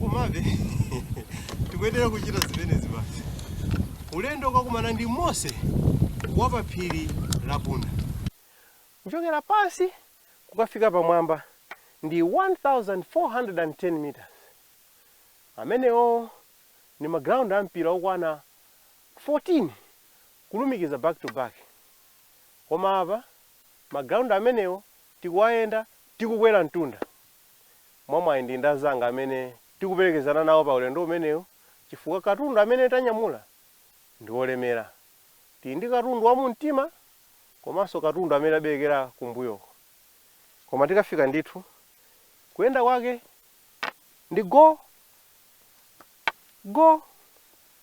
komabe tikuyenera kuchita zimenezi basi ulendo wokakumana ndi mose wa pa phiri la bunda kuchokera pansi kukafika pamwamba ndi 1410 meters amenewo ndi maground a mpira okwana 14 kulumikiza back to back koma apa maground amenewo Tikuwayenda tikukwera mtunda mwamwayi ndili ndi anzanga amene tikuperekezana nawo pa ulendo umenewo chifukwa katundu amene tanyamula ndi wolemera. Tili ndi katundu wa mumtima komanso katundu amene taberekera kumbuyoko. Koma tikafika ndithu, kuyenda kwake ndi go! go!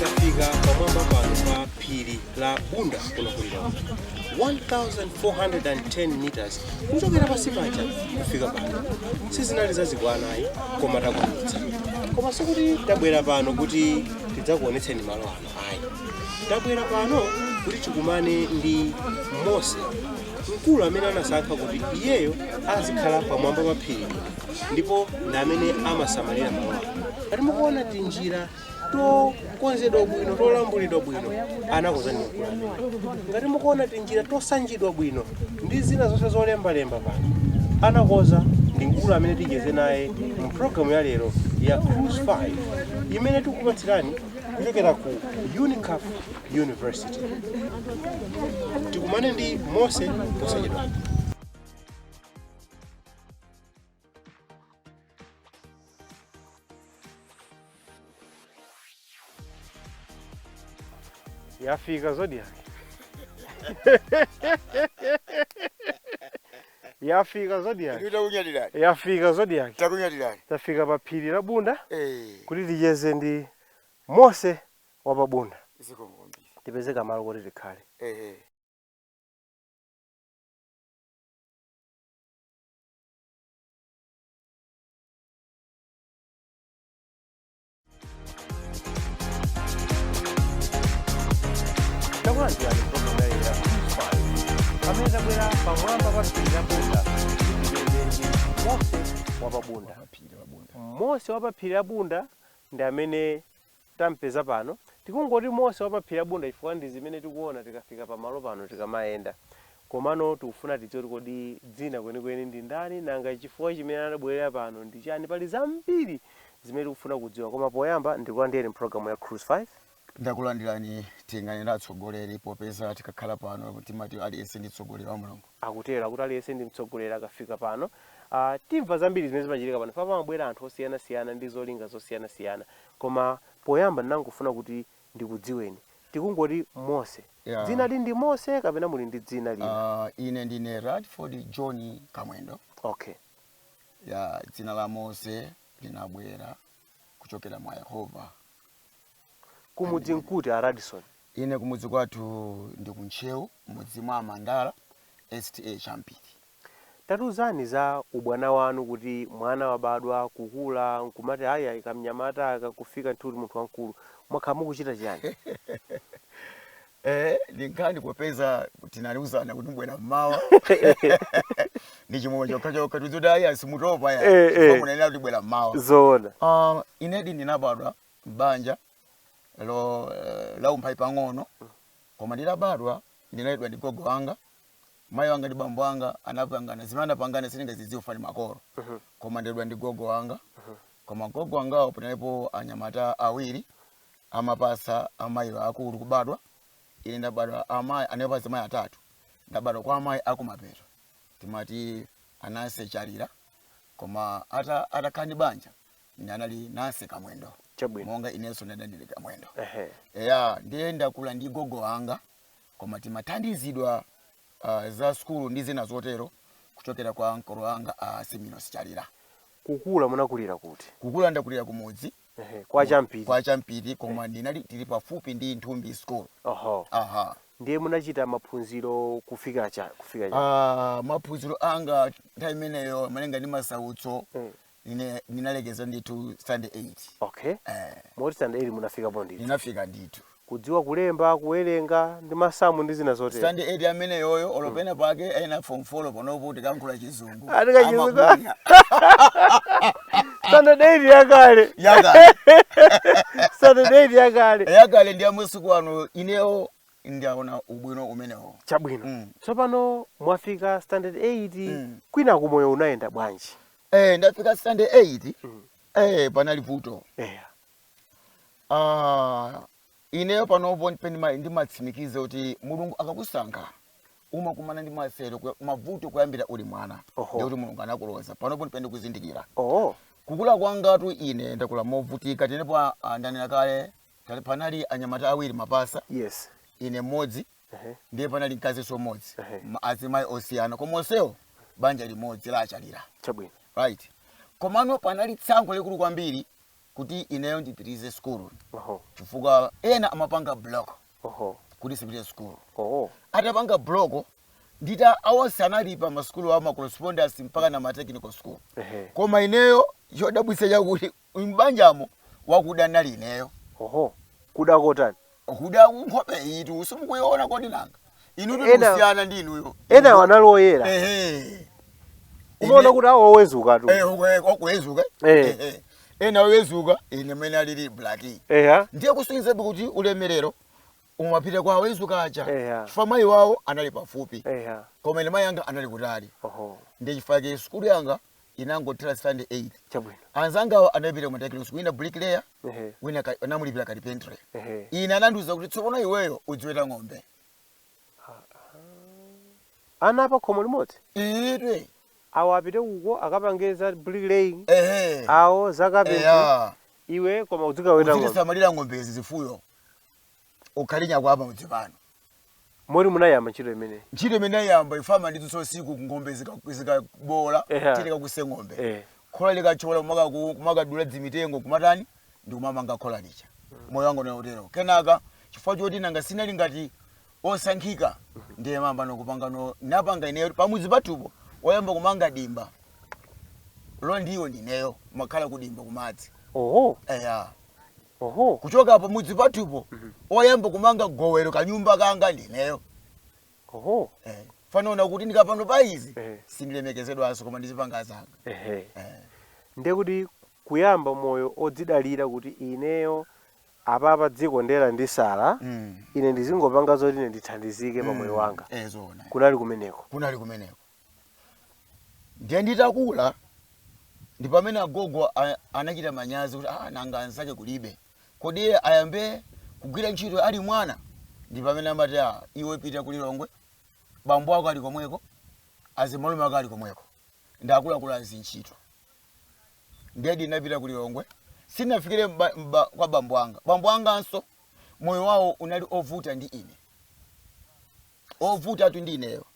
tafika pamwamba pano pa phiri la bunda kuno ku lilongwe 1410 meters kuchokera pansi paja kufika pano sizinali za chibwana ayi koma takwanitsa koma sikuti tabwera pano kuti tidzakuonetseni malo ano Ayi. Tabwera pano kuti tikumane ndi Mose, mkulu amene anasankha kuti iyeyo azikhala pamwamba pa phiri ndipo ndi amene amasamalira malo ano. Ngati mukuona tinjira tokonzedwa bwino tolambulidwa bwino anakonza ndi mkulu amene. Ngati mukuona tinjira tosanjidwa bwino ndi zina zonse zolembalemba pano anakonza ndi mkulu amene ticheze naye mu programu ya lero ya Cruise 5 imene tikupatsirani kuchokera ku unicaf university tikumane ndi mose posachedwa yafika zodiak Yafika Zodiak. Inu takunyadilani. Yafika Zodiak. Takunyadilani. Tafika pa phiri la Bunda hey. kuti ticheze ndi Mose wa pa Bunda. Zikomo kwambiri. Tipeze kamalo kuti tikhale. Hey, hey. takulandirani programu ya lero ya pamene tabwera pamwamba pa phiri la bunda ndicheze ndi mose wa pabunda mose wa pa phiri la bunda ndi amene tampeza pano tikungoti mose wa pa phiri la bunda chifukwa ndi zimene tikuona tikafika pamalo pano tikamayenda Komano tikufuna tidziwe kuti kodi dzina kwenikweni ndi ndani nanga chifukwa chimene anabwelera pano ndi chani pali zambiri zimene tikufuna kudziwa koma poyamba ndikulandireni mu program ya Cruise 5. Ndakulandirani tinganene atsogoleri popeza tikakhala pano timati aliyense ndi mtsogoleri wa mlungu. Akutero akuti aliyense ndi mtsogoleri akafika pano ah timva zambiri zimene zimachitika pano chifukwa pamabwera anthu osiyanasiyana ndi zolinga zosiyanasiyana koma poyamba ndinangofuna kuti ndikudziweni. Tikungoti Mose. Yeah. Dzinali ndi Mose kapena muli ndi dzina lina? Uh, ine ndine Radford John Kamwendo. Okay. Ya dzina la Mose linabwera kuchokera mwa Yehova. Kumudzi nkuti a Radson? Ine kumudzi kwathu ndi ku Ntcheu mudzi mwa Mandala STA Champiti. Tatiuzani za ubwana wanu kuti mwana wabadwa, kukula, nkumati ayi ayi kamnyamata kakufika ndithu kuti munthu wamkulu. Mwakhala mukuchita chiyani? Eee ndi nkhani popeza tinaliuzana kuti mubwera mmawa ndi chimwemwe chokhachokha tiuze kuti ayi ayi simutopa ayi Eh, eh. chifukwa munanena kuti bwera mmawa Zoona. Ah, inedi ndinabadwa m'banja lo eh, la umphawi pang'ono koma nditabadwa ndinaleredwa ndi gogo wanga mayi wanga ndi bambo anga anapangana zimene anapangana sindingazidziwe fani makolo koma ndaleredwa ndi gogo wanga koma gogo wangawo panalipo anyamata awiri amapasa amayi akulu kubadwa ine ndabadwa amayi anapasa amayi atatu ndabadwa kwa amayi akumapeto timati ananse chalira koma ata atakhala ndi banja ndiye anali nanse kamwendo Chabwino. monga inenso ndadandire kamwendo Ehe. eya ndiye ndakula ndi gogo wanga koma timathandizidwa uh, za sukulu ndi zina zotero kuchokera kwa ankolo anga a Siminos Chalira. Kukula munakulira kuti? Kukula ndakulira kumudzi Ehe, kwa Champiti. kwa Champiti koma ndinali tili pafupi ndi Nthumbi School. Oho. Aha. Ndiye munachita maphunziro kufika cha kufika cha. Ah, maphunziro anga nthawi imeneyo malinga ndi masautso Mm. ine ndinalekeza ndithu standard 8 okay eh, moti standard 8 munafikapo ndithu ndinafika ndithu kudziwa kulemba kuwerenga ndi masamu ndi zina zotero standard 8 ameneyoyo olopena pake ena form 4 panopo tikalankhula chizungu Ati kachizungu. Amakunya. standard 8 yakale Yakale. standard 8 yakale yakale ndi amasiku ano inewo ndiaona ubwino umenewo chabwino Mm. tsopano mwafika standard 8 Mm. kwina kumoyo unayenda bwanji eh ndafika standard 8 mm. eh panali vuto eh ah ineyo panopo ndimatsimikiza kuti mulungu akakusankha umakumana ndi masautso mavuto kuyambira uli mwana ndikuti mulungu anakuloza panopo ndi pamene ndikuzindikira oh. kukula kwangatu ine ndakula movutika tenepo ah, ndanena kale panali anyamata awiri mapasa yes. ine mmodzi ndiye panali mkazinso mmodzi ma- azimayi osiyana koma onsewo banja limodzi la achalira chabwino right komano panali tsankho likulu kwambiri kuti ineyo ndipitirize sukulu oho chifukwa ena amapanga block oho kuti sipite sukulu oho atapanga block ndita awonse anali pa masukulu awo ma correspondence mpaka na ma technical school ehe koma ineyo chodabwitsa chakuti Uyu m'banjamo wakuda n'nali ineyo. Oho! Kuda kotani? Kuda nkhope iyitu simukuiona kodi nanga? Inutu ndi Ena- osiyana ndi inuyo. Inu enawo ndi- anali oyera. Ehe. Umaona Ine- kuti awo owezukatu. Eh, okwe- okwezuka. Eh. Ehe. Ena owezuka ine mmene nalili black. Eya. Ndiye kusonyezatu kuti ulemerero umapita kwa owezuka aja. Eya. Chifukwa mayi wawo anali pafupi. Eya. Koma ine mayi anga anali kutali. Oho. Ndiye chifukwa chake sukulu yanga inangothera standard 8 chabwino anzangawo anapita ku ma technical school wina bricklayer ehe wina ka- anamulipira carpentry ehe ine anandiuza kuti tsopano iweyo udziweta ng'ombe ana apa khomo limodzi iwe awo apite uko akapange za bricklaying ehe awo za carpentry eya iwe koma udzikaweta ng'ombe uzisamalira ng'ombezi zifuyo ukhale nyakwawa pamudzi pano moti munayamba ntchito imeneyi ntchito imene ayamba ife amandidzutsa usiku ng'ombe zika- zikaboola Eha. tiye kakuse ng'ombe Eh. khola likachola kumaka- ku- kumakadula dzimitengo kumatani ndi kumamanga khola lija moyo wanga unali otero kenaka chifukwa choti nanga sinali ngati osankhika ndiye mamba nokupanga no napanga ineyo pamudzi pathupo oyamba kumanga dimba la ndiwo ndineyo n'makhala kudimba kumadzi oho eya Oho. Kuchoka pamudzi pathupo, oyamba kumanga gowelo kanyumba kanga ndineyo. Oho. Eh, fa n'naona kuti ndikapano pa izi Eh. sindilemekezedwanso koma ndizipanga zanga. Ehe. Eh. Ndiye kuti kuyamba moyo odzidalira kuti ineyo apapa dziko nde landisala Mm. ine ndizingopanga zoti ine ndithandizike pa moyo wanga. Eh, zoona. Kunali kumeneko. Kunali kumeneko. Ndiye nditakula ndi pamene agogo a- anachita manyazi kuti ah, nanga anzake kulibe kodi iye ayambe kugwira ntchito ali mwana ndi pamene amati ah, iwe pita ku lilongwe bambo ako ali komweko azimalume ako ali komweko ndi akuluakulu a zintchito ndiye ndinapita ku lilongwe sinafikire mba, mba, kwa bambo anga bambo anganso moyo wawo unali ovuta ndi ine ovutatu ndi ineyo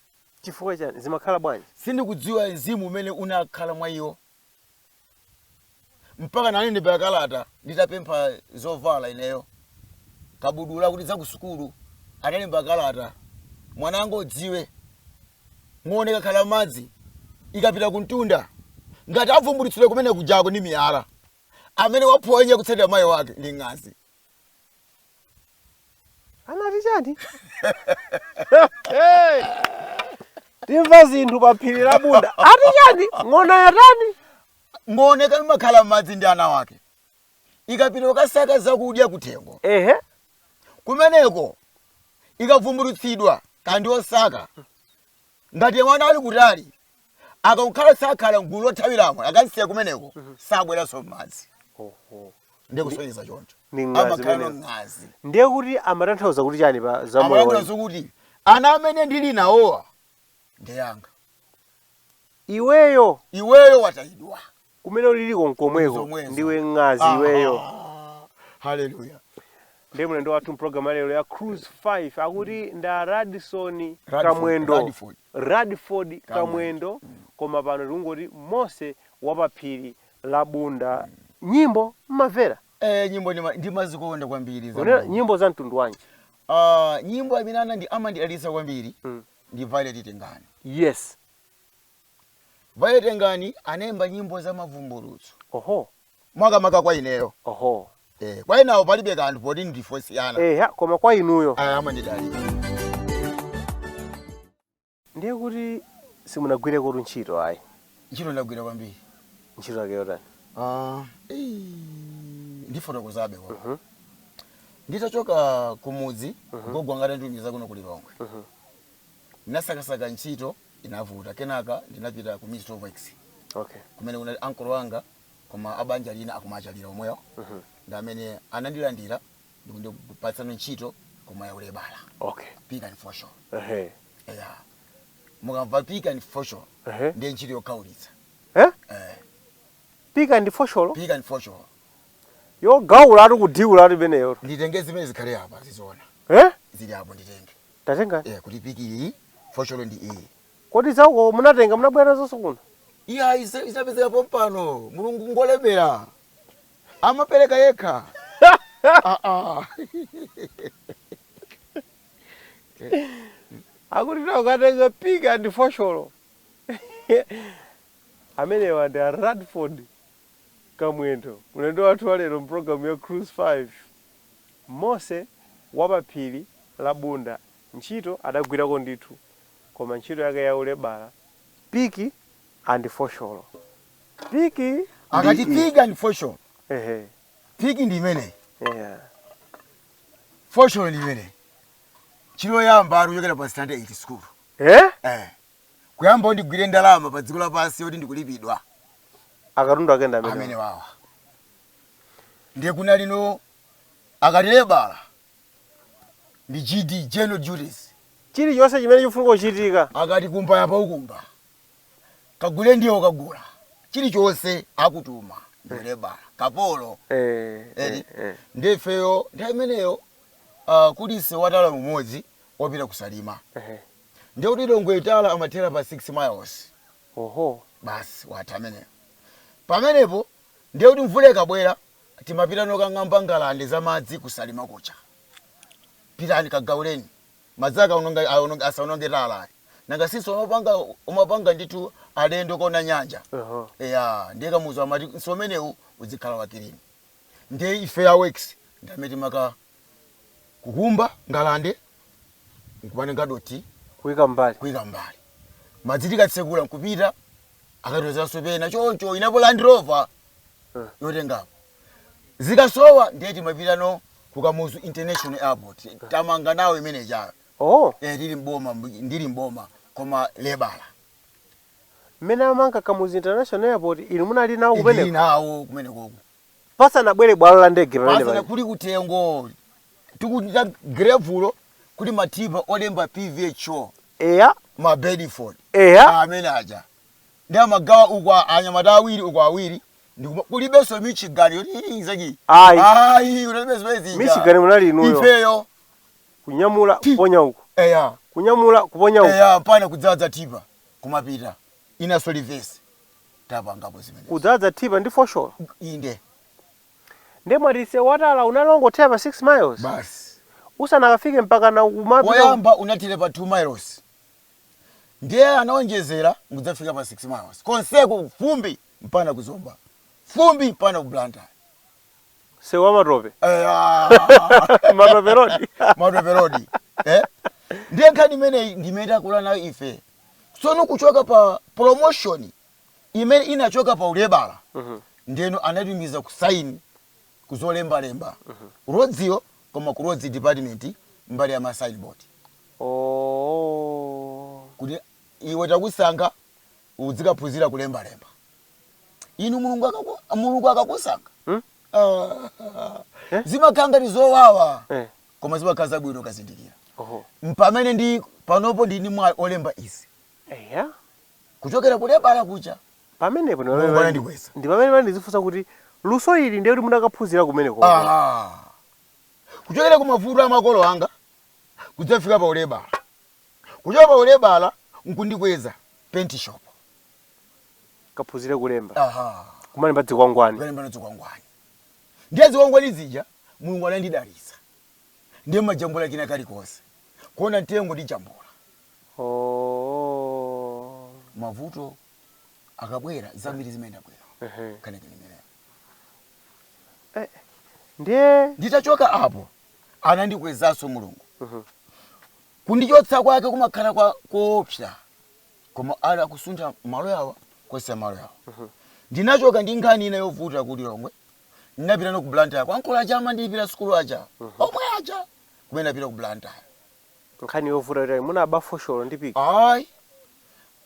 Chifukwa chiyani? Zimakhala bwanji? Sindikudziwa mzimu umene unakhala mwa iwo mpaka anandilembera kalata nditapempha zovala ineyo kabudula kuti za kusukulu analemba kalata mwana wanga udziwe ng'ona ikakhala m'madzi ikapita kumtunda ngati avumbulutsidwa kumene kujako ndi miyala amene waphonya kutsatira mayi wake ndi ng'azi anati chani timva zinthu pa phiri la bunda ati chani ng'ona yatani ngooneka imakhala m'madzi ndi ana wake ikapita kukasaka zakudya kuthengo ehe kumeneko ikavumbulutsidwa ndi osaka ngati mwana ali kutali akakhala sakhala mgulu lothawiramo akamsiya kumeneko sabweranso m'madzi Oho. ndikusonyeza choncho Ni ng'azi amakhala imeneyo. ng'azi ndiye kuti amatanthauza kuti chani pa za moyo amatanthauza kuti ana amene ndili nawowa ndiyanga iweyo iweyo watayidwa kumene uliliko nkomweko Nzomwezo. ndiwe ng'azi Aha. iweyo haleluya ndiye mlendo wathu mprogram ya lero ya cruise 5 akuti nda Radford Radford, kamwendo Radford. radford kamwendo koma pano tikungoti mose wa pa phiri la bunda nyimbo mmamvera eh, nyimbo ndima- ndimazikonda kwambiri za kunena Mulungu. nyimbo za mtundu wanji Ah, nyimbo imene anandi amandidalitsa kwambiri Mm. ndi violet tengani yes Violet Tengani anaimba nyimbo za mavumbulutso. Oho. Makamaka kwa ineyo. Oho. Eh, kwa enawo palibe kanthu poti ndife osiyana. Eya, koma kwa inuyo. Ah, amandidalitsa. Ndiye kuti simunagwirekotu ntchito ayi. Ntchito ndagwira kwambiri. Ntchito yake yotani? Ah, eh, ndifotokozabe koma. Mhm. Nditachoka kumudzi, gogo wanga atanditumiza kuno ku Lilongwe. Ndinasakasaka ntchito. inavuta kenaka ndinapita ku Ministry of Works okay. kumene kunali ankolo wanga koma abanja lina akumatchalitchi omwewo mm -hmm. ndi amene anandilandira ndikundipatsano ntchito koma yaulebala okay. pick and fosholo uh -huh. yeah. mukamva pick and fosholo uh -huh. ndiye ntchito yokhaulitsa eh? eh. pick and fosholo pick and fosholo yogaula ati kudiula ati peneyo nditenge zimene zikhale apa ziziona eh? zili apo nditenge Tatenga. Eya kuti pick iyi fosholo ndi iyi. Kodi za uko munatenga munabwera nazonso kuno? Iyayi zinapezeka pompano Mulungu ngolemera amapereka yekha aah. Akuti ukatenga pick and fosholo amenewa ndi a Radford Kamwendo mlendo wathu walero mu program ya Cruise 5. Mose wa pa phiri la Bunda ntchito adagwirako ndithu koma ntchito yake ya ulebala, piki and fosholo, piki ndi Akati i. pick and fosholo. Ehe. Pick ndi imeneyi. Eya. Fosholo ndi imeneyi. Ntchito yoyamba ati kuchokera pa standard 8 school. Eh? Eh. Kuyamba kuti ndigwire ndalama pa dziko lapansi yoti ndikulipidwa. Akatundu ake ndi amenewa. Amenewawa. ndiye kuna lino akati lebala ndi GD, general duties. Chilichonse chimene chikufunika kuchitika. Akati kumba apa ukumba, kagule ndiwo ukagula, chilichonse akutuma ndiwe lebala, kapolo. Eti ndiye ifeyo nthawi imeneyo kuli nsewu wa tala umodzi wopita ku Salima ndiye kuti Lilongwe tala imathera pa 6 miles basi watha ameneyo. Pamenepo Ndiye kuti mvula ikabwera timapita nokang'amba ngalande za madzi ku Salima kuja. Pitani kagauleni. Madzi akaononga asaononge tala ayi. Nanga since umapanga umapanga ndithu alendo kona nyanja. Eya ndiye Kamuzu amati nsewu umenewu udzikhala wa kilini. Ndiye ife a works ndi amene timaka kukumba ngalande nkumatenga dothi kuika mbali kuika mbali madzi tikatsekula nkupita akatitulanso pena choncho inapo land rover Eh. yotengapo zikasowa ndiye timapita no ku Kamuzu international airport tamanga nawo imene chayo oh eh, tili mboma ndili mboma koma lebala mmene amamanga Kamuzu international airport inu munali nawo ndili kumeneko nawo kumene koko pasanabwere bwalo la ndege pamene Pasana pali. kuli kuthengo tikuthira girevulo kuli matipa olemba pvho Eya, ma bedford eya, amene aja ndi timagawa uku a- anyamata awiri uku awiri ndikuma- kulibenso michigan yoti ilinzaki Ayi. ayi kulibenso bezi ija. Michigan munali inuyo. ifeyo kunyamula kuponya uku, eya kunyamula kuponya uku. eya mpana kudzadza tipa kumapita inaso livesi tapangapo zimenezo. Kudzadza tipa ndi fosholo? Inde. Ndiye mwati nsewu wa tala unali ongothera pa 6 miles? Basi. Usanakafike mpakana kumapita. Woyamba unathera pa 2 miles ndiye anaonjezera nkudzafika pa 6 miles. Konseko fumbi mpana ku Zomba, fumbi mpana ku Blantyre. Nsewu wa matope? Eyaah! Matope road? Matope road. Ndiye nkhani imeneyi ndi imene takula nayo ife. tsono kuchoka pa promotion imene inachoka pa ulebala ndeno ananditumiza kusaini kuzolembalemba ku roadsyo koma ku roads department mbali ya ma signboard Oh. kuti iwe takusankha uzikaphunzira kulembalemba inu mulungu akaku- mulungu akakusankha Hmm? Ah, zimakhala ngati zowawa Eh. koma zimakhala zabwino ukazindikira. Mpamene ndine panopo ndili ndi mwayi olemba izi. Eya. Kuchokera ku lebala kuja. Pamenepo ndi Mulungu pamene anandikweza. ndi pamene pamene ndidzifunsa kuti luso ili ndiye kuti munakaphunzira kumenekoko. Aha. Kuchokera ku mavuto a makolo anga kudzafika pa ulebala. Kuchoka pa ulebala nkundikweza penti shopo. Kaphunzire kulemba. Aha. Kumalemba dzikwangwani. Kukalemba nazo zikwangwani. Ndiye zikwangwani zija Mulungu anandidalitsa ndiye mmajambula kena kalikonse kuona mtengo ndijambula Oooh. mavuto akabwera zambiri zimayenda bwino Ehe. nkhani yake ndimeneyo. Eh, ndiye Nditachoka apo anandikwezanso Mulungu Mhm. kundichotsa kwake kumakhala kwakoopsa koma ali akusuntha malo awa kweza malo awa ndinachoka ndi nkhani ina yovuta ku lilongwe ndinapitano ku blantyre kwa nkulu aja amandilipira sukulu aja omwe aja kumene napita ku blantyre nkhani yovuta yotani munaba fosholo ndi piki ayi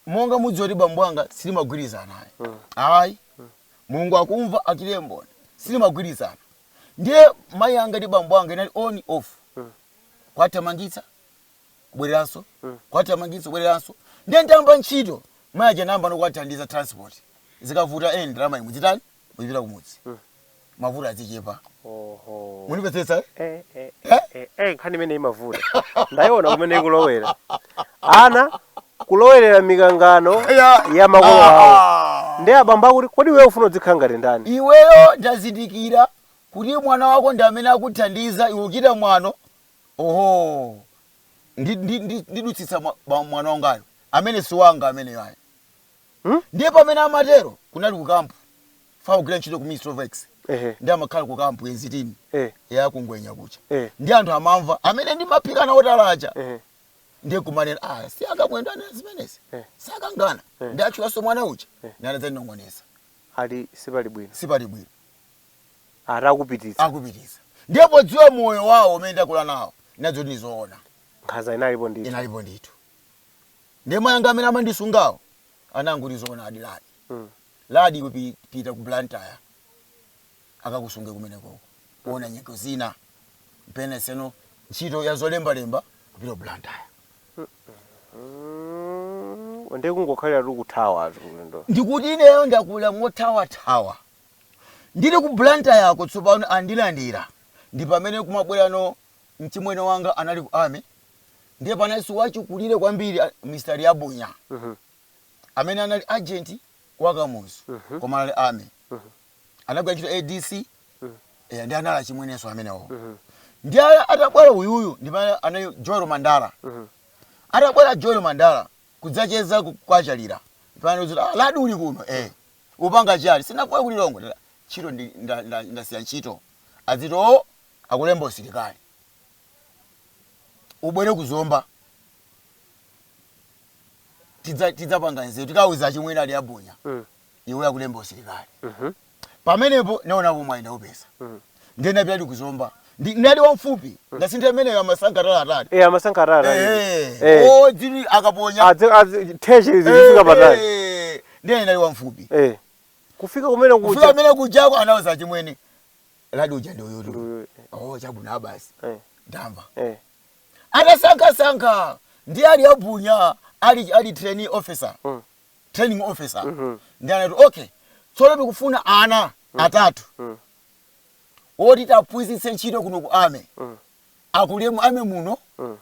monga mudziwa kuti bambo anga sitimagwirizana ayi ayi mulungu akumva achitire mboni sitimagwirizana ndiye mayi anga ndi bambo anga inali on off kuwathamangitsa bwereranso kuwathamangitsanso bwereranso ndiye ntamba ntchito mayi aja namba no kuwathandiza transport zikavuta eni ndalama inu chitani muzipita kumudzi mavuto azichepa oho mundimvetsetsa Eh, eh, eh, eh, eh, nkhani imene imavuta ndayiona kumene ikulowera ana kulowerera mikangano Ya. ya makolo awo Ah. ndi abambo akuti kodi iwe ufuna udzikhala ngati ndani iweyo ndazindikira kuti mwana wako ndi amene akuthandiza iwe uchita mwano Oho, ndi, ndi, ndi, ndichotsetsa mwa, ba- mwana wangayo amene si wanga ameneyo ayi. Hmm? Ndiye pamene amatero kunali ku kampu. Fa kugwira ntchito ku Ministry of Works. Ehe. Ndi amakhala ku kampu enzitini Eh. ya kungwenya kuja. Eh. Ndi anthu amamva amene ndimaphika nawo tala aja. Ehe. ndiye kumanena ah si aKamwendo anena zimenezi Eh. sakangana Eh. ndi atchulanso mwana uja Eh. ndi anadzandinong'oneza Ali sipali bwino. sipali bwino akupititsa. akupititsa. Ndiye podziwa moyo wao umene ndakula nao, ndinadziwa kuti ndi zoona. nkhanza inalipo ndithu. inalipo ndithu. Ndiye mai anga amene amandisungawo anangoti, Zoonadi, Ladi, Ladi iwe pi, pita ku Blantyre akakusunge kumenekoko. Kuona nyengo zina mpamene tsano ntchito ya zolembalemba kupita ku Blantyre. Mm, ndiye kungokhaliratu kuthawatu ulendo. Ndikuti ineyo ndakula mothawathawa. Ndili ku Blantayer'ko tsopano andilandira ndi pamene kumabwerano mchimwene wanga anali ku Army ndiye panalinso wachikulire kwambiri a Mr Liabunya amene anali agent wa Kamuzu koma anali Army anagwira ntchito ya DC eya ndiye anali achimwenenso amenewowo ndiye a- atabwera uyuyu ndi pamene anali Joel Mandala atabwera Joel Mandala kudzacheza ku- kwa Chalira pamene anauza kuti ah Ladi uli kuno eh Upanga chani? Sindinakuwe ku Lilongwe? Ntchito ndi nda nda ndasiya ntchito. Adziti oo akulembe usilikali. Ubwere ku Zomba tidza tidzapanga nzeru. Tikauze achimwene a Liabunya. Iweyo akulembe usilikali. Pamenepo naonapo mwayi ndaupeza. ndiye napitadi ku Zomba ndi nali wamfupi ngati ndi ameneyo amasankha tala atali eh amasankha atali eh eh o dzili akamaponya adze adze theshe izi zifika patali Eh, ndiye nali wamfupi eh kufika kumene kufika kuja amene kujako anawuza achimwene Ladi uja ndi uyutu Uyu, oh chabwino abasi eh ndamva eh atasankhasankha ndiye a Liabunya ali ali training officer Mm. training officer Mhm. ndiye anati okay tsono tikufuna ana atatu Mm. oti tiwaphunzitse ntchito kuno ku army mm. akule mu army muno mm.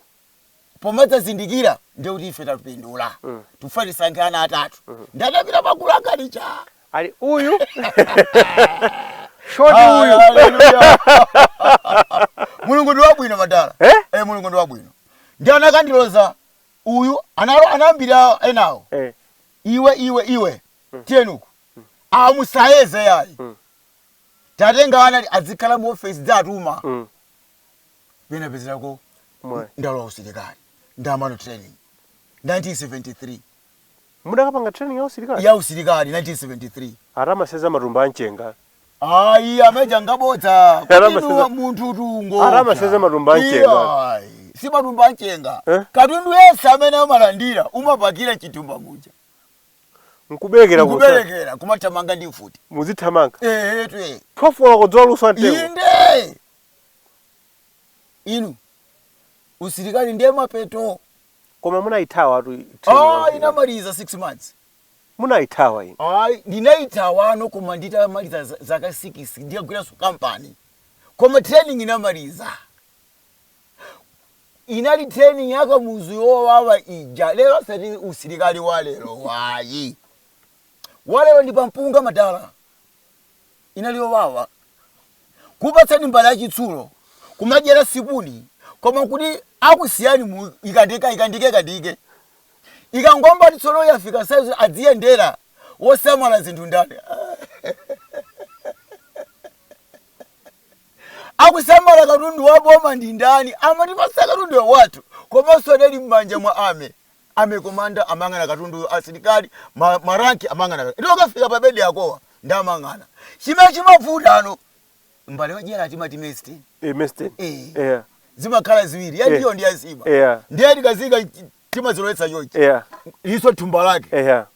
pomadzazindikira ndiye kuti ife tapindula mm. tikufuna tisankhe ana atatu mm. ndatapita magulu angalicha ali uyu short uyu mulungu ndi wabwino madala eh? eh, mulungu ndi wabwino ndi anakandiloza uyu analo anambira enawo eh. iwe iwe iwe mm. tiyeni uku mm. amusayeze yayi mm. tatenga ana ti- adzikhala mu ofesi tidziwatuma Mm. pena pezerako Mwayi. ndalowa usilikali ndapanga training 1973 Mudakapanga training ya usilikali? ya usilikali 1973 Ala amasenza matumba a mchenga. ayi amene aja ngabodza Ala ama Katundu seza- wa munthu tungo Ala amasenza matumba a mchenga. si matumba a mchenga Eh? katundu yense amene amalandira umapakira m'chithumba muja nkubelekera ku msana nkubelekera kumathamanga ndi mfuti muzithamanga ehe twe 12 koloko dzuwa likuswa mtengo inde inu usilikali ndiye mapeto koma munayithawa tu ah ndinamaliza 6 months munayithawa inu ayi ndinayithawano koma nditamaliza za- zaka 6 ndikagwiranso kampani koma training ndinamaliza inali training ya kamuzu yowawa ija lero sati usilikali wa lero wayi wa lero ndi pampunga madala inali yowawa kupatsani mbale ya chitsulo kumadyera supuni koma kuti akusiyani ikandike ikandike ikandike ikangoyamba tsono yafika saizi adziyendera wosamala zinthu ndani Akusamala katundu wa boma ndi ndani? Amatipatsa katundu wathu komanso adali mmanja mwa army. Army commander amayang'ana katunduyo asilikali ma ma rank amayang'ana katundu ndiye akafika pa bed yako ndiye amayang'ana. Chimene chimavutano mbale yodyera timati mess tin Eh mess tin eh eya. zimakhala ziwiri ya ndiwo ndi ya nsima eya ndiye tikaziyika timazilowetsa chonchi eya ilinso thumba lake eya.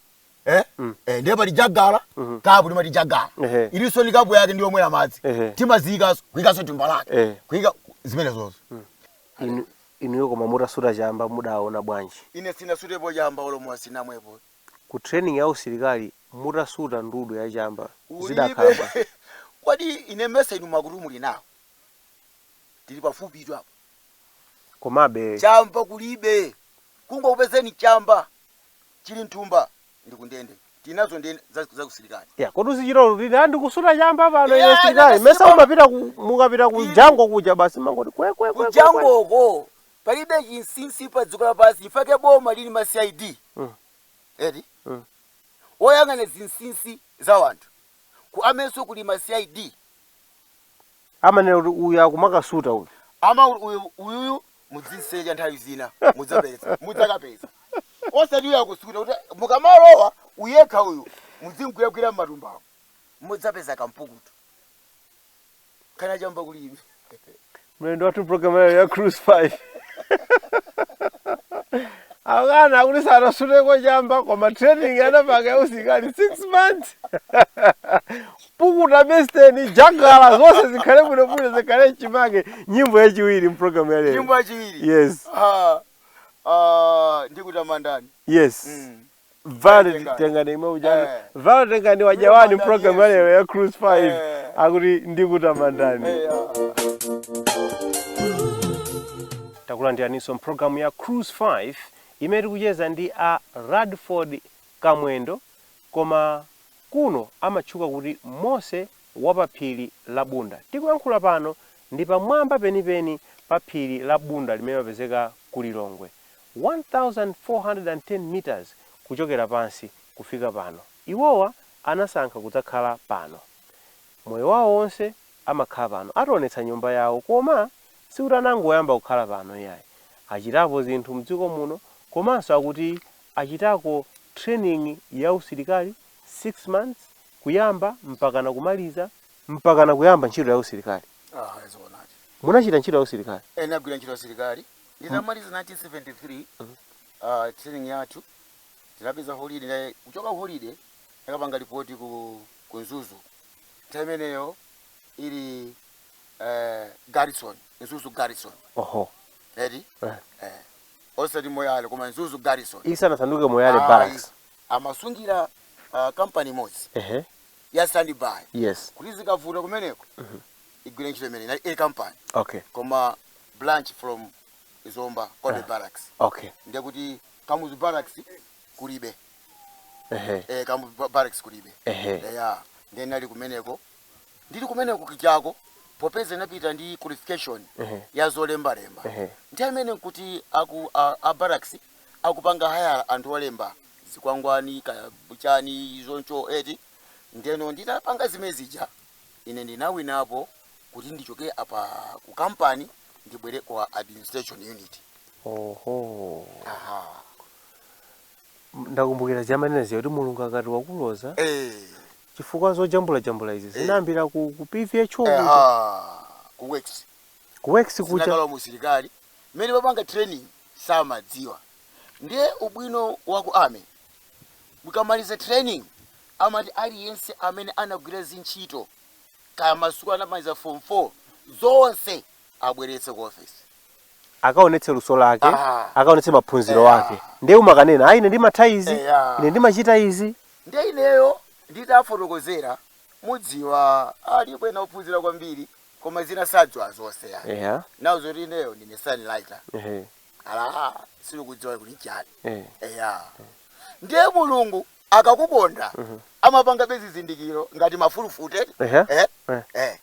Eh? Eh, ndiye pali jagala kapu timati jagala Ehe. ilinso ndi kapu yake ndiyomwera madzi Ehe. timaziyikanso kuyikanso thumba lake Eh. kuyika zimenezozo Inu- inuyo koma mutasuta chamba mudaona bwanji ine sinasutepo chamba olo mowa sinamwepo ku training ya usilikali mutasuta ndudu ya chamba kulibe zidakhala kodi ine mesa inu makutu muli nawo tili pafupitu apa komabe chamba kulibe akangokupezani chamba chili mthumba ndikundende tilinazo ndende za, za usilikali ya kodi uzichita lutili ah ndikusuta chamba pano Yeah, ine silikali ndakasuta mesa pano. umapita ku mukapita ku Ine. jango kuja basi mangoti kwe kwe kwe, kwe kwe kujangoko palibe chinsinsi pa dziko lapansi nchifukwa chake boma lili ndi ma cid Mm. eti Mm. oyang'ana zinsinsi za wanthu ku army nso kuli ma cid amanena kuti uyu akumakasuta uyu ama uyu uyuyu mudzisecha nthawi zina mudzapeza mudzakapeza osati uyu akusuta kuti mukamalowa uyekha uyu mudzimgwiragwira m'matumbawo mudzapeza kampukutu kena ka chamba kuli inu mlendo wathu mprogramu ya lero ya cruise 5 akana kuti sanasuteko chamba koma training anapanga ya usilikali 6 months Pukuta besiteni, jagala, zonse zikhale bwino bwino zikhale mchimake. Nyimbo yachiwiri mprogramu ya lero. Nyimbo yachiwiri. Yes. Ah, ah, ndikutamandani. Yes. Mm. Vale tengani. tengani imwe ujani. Eh. Vale tengani wajawani Ndikutamandani mprogramu ya Yesu. lero ya Cruise 5. Eh. Akuti ndikutamandani. Eh, ah. takulandiraniso mprogramu ya cruise 5 imene tikucheza ndi a radford kamwendo koma Kuno amatchuka kuti Mose wa pa phiri la Bunda. Tikuyankhula pano ndi pamwamba penipeni pa phiri la Bunda limene limapezeka ku Lilongwe, 1,410 meters kuchokera pansi kufika pano. Iwowa anasankha kudzakhala pano. Moyo wawo wonse amakhala pano. Ationetsa nyumba yawo koma sikuti anangoyamba kukhala pano iyayi. Achitapo zinthu mdziko muno komanso akuti achitako training ya usilikali 6 months kuyamba mpakana kumaliza mpakana kuyamba ntchito ya usilikali Ah, zoonadi. munachita ntchito ya usilikali Eh, nagwira ntchito ya usilikali. Ndinamaliza 1973 ah, training yathu tinapeza holiday nde kuchoka ku holiday kukapanga ripoti ku ku Nzuzu. Nthawi imeneyo ili eh, garrison, Nzuzu garrison. oho Eti? Eh. Eh, osati moyale koma mzuzu garrison isanasanduke moyale Ayi, barracks amasungira uh, kampani imodzi ehe ya standby yes kuti zikavuta kumeneko igwire ntchito imene inali A company okay koma branch from zomba Cobbe barracks okay ndiye kuti kamuzu barracks kulibe ehe eh, kamuzu ba- barracks kulibe ehe eya ndiye nali kumeneko ndili kumeneko kijako popeza napita ndi qualification Ehe. ya zolembalemba Ehe. nthawi imene nkuti aku a, a barracks akupanga haya anthu olemba zikwangwani kaya chani zoncho eti ndeno nditapanga zimene zija ine ndinawinapo kuti ndichoke apa ku kampani ndibwere kwa administration unit oho aha ndakumbukira zomanenazi kuti mulungu akati wakuloza eh chifukwa zojambula jambula izi Eh. zinayambira ku, ku pvh Eh, kuja ah, ku works ku works kuja zinakalowa mu usilikali mmene mapanga training samadziwa ndiye ubwino wa ku army mukamaliza training amati aliyense amene anagwira zintchito kaya masukulu anamaliza form 4 zonse abweretse ku office akaonetse luso lake Ah. akaonetse maphunziro Yeah. ake ndiye umakanena ayi ine ndimatha izi Yeah. ine ndimachita izi Ndiye ineyo nditafotokozera mudziwa alipo ena ophunzira kwambiri koma zina sadziwa zonse ya eya nawo zoti ineyo ndine sign writer ehe ala sakudziwa kuti chani eh eya ndiye mulungu akakukonda amapangabe zizindikiro ngati mafulufute ehe eh eh eh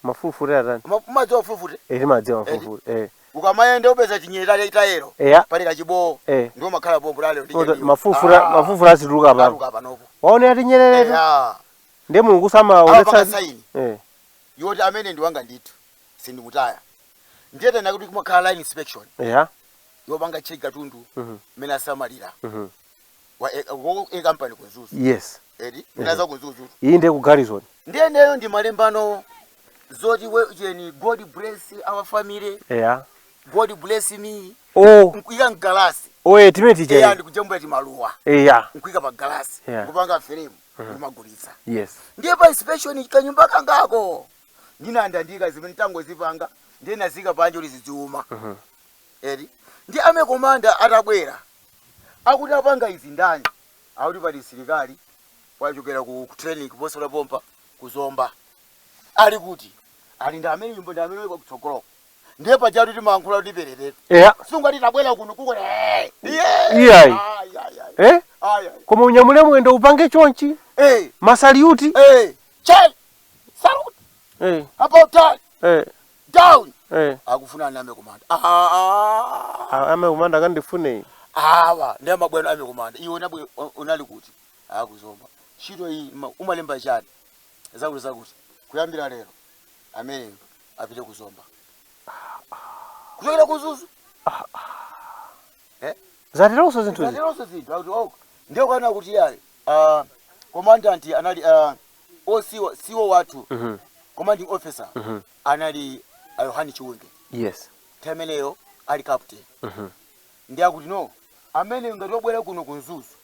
mafulufute atani Uma- umadziwa mafulufute Eh, timadziwa Eti. mafulufute eh ukamayenda upeza tinyerere tatero eya pali kachibowo Eh. ndiyo amakhala pompo tatero Oto- mafulufute mafulufute azituluka apapo aluka panopo waona tinyereretu eya ndi mulungu apanga samaonetsa saini eh yoti amene ndiwanga ndithu sindimutaya ndiye tinene kuti kumakhala line inspection eya yopanga check katundu Mhm. mmene asamalira Mhm. wa e, wa e company ku mzuzu yes edi ndina za ku mzuzu iyi ndiye ku garrison ndiye ineyo ndimalembano zoti we cheni god bless our family eya god bless me o nkuika mgalasi o eh, timene eya tija ndikujambula timaluwa eya nkuika pa galasi Yeah. kupanga frame kumagulitsa yes ndiye pa inspection kanyumba kangako ndinandandika zimene tangozipanga ndiye ndinaziika panja kuti zidziuma eti ndi army commander atabwera akuti apanga izi ndani akuti pali msilikali wachokera ku ku training kuposa la pompa ku zomba ali kuti ali ndi amene nyumba ndi amene uko kutsogoloko ndiye pajatu timayankhula kuti pererere eya sungati tabwera kuno kuko eh, yeah. Iyayi. Ayi, ayi, ayi. eh Ayi, ayi. koma unyamule mwendo upange chonchi Eh, masaliuti eh, Charlie, salute eh about turn. eh down eh akufuna army commander ah a- army commander kandifune iyi awa ndi mabwana army commander iwe unabwe unali kuti a ku zomba ntchito iyi ma- umalemba chani zakuti zakuti kuyambira lero ameneyo apite ku zomba kuchokera ku mzuzu zateronso zinthu izi zateronso zinthu akuti oh ndiye kwana kuti yayi ah, commandant anali ah, o CO CO wathu Mhm. commanding officer Mhm. anali a yohane chiwunge Yes. nthawi imeneyo ali captain Mhm. ndiye akuti no amene ngati wabwera kuno ku mzuzu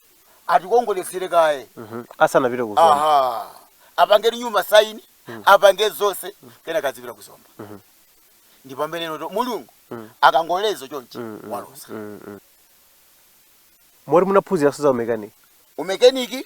atikongoletsere kaye Mhm. Asanapite ku zomba. aha apange nyumba saini apange zonse kenaka azipita ku zomba Mhm. ndi pamene n'nati mulungu Mhm. akangoloza chonchi Mm, mm, waloza mm, mm. Moti munaphunziranso za umekani. umekaniki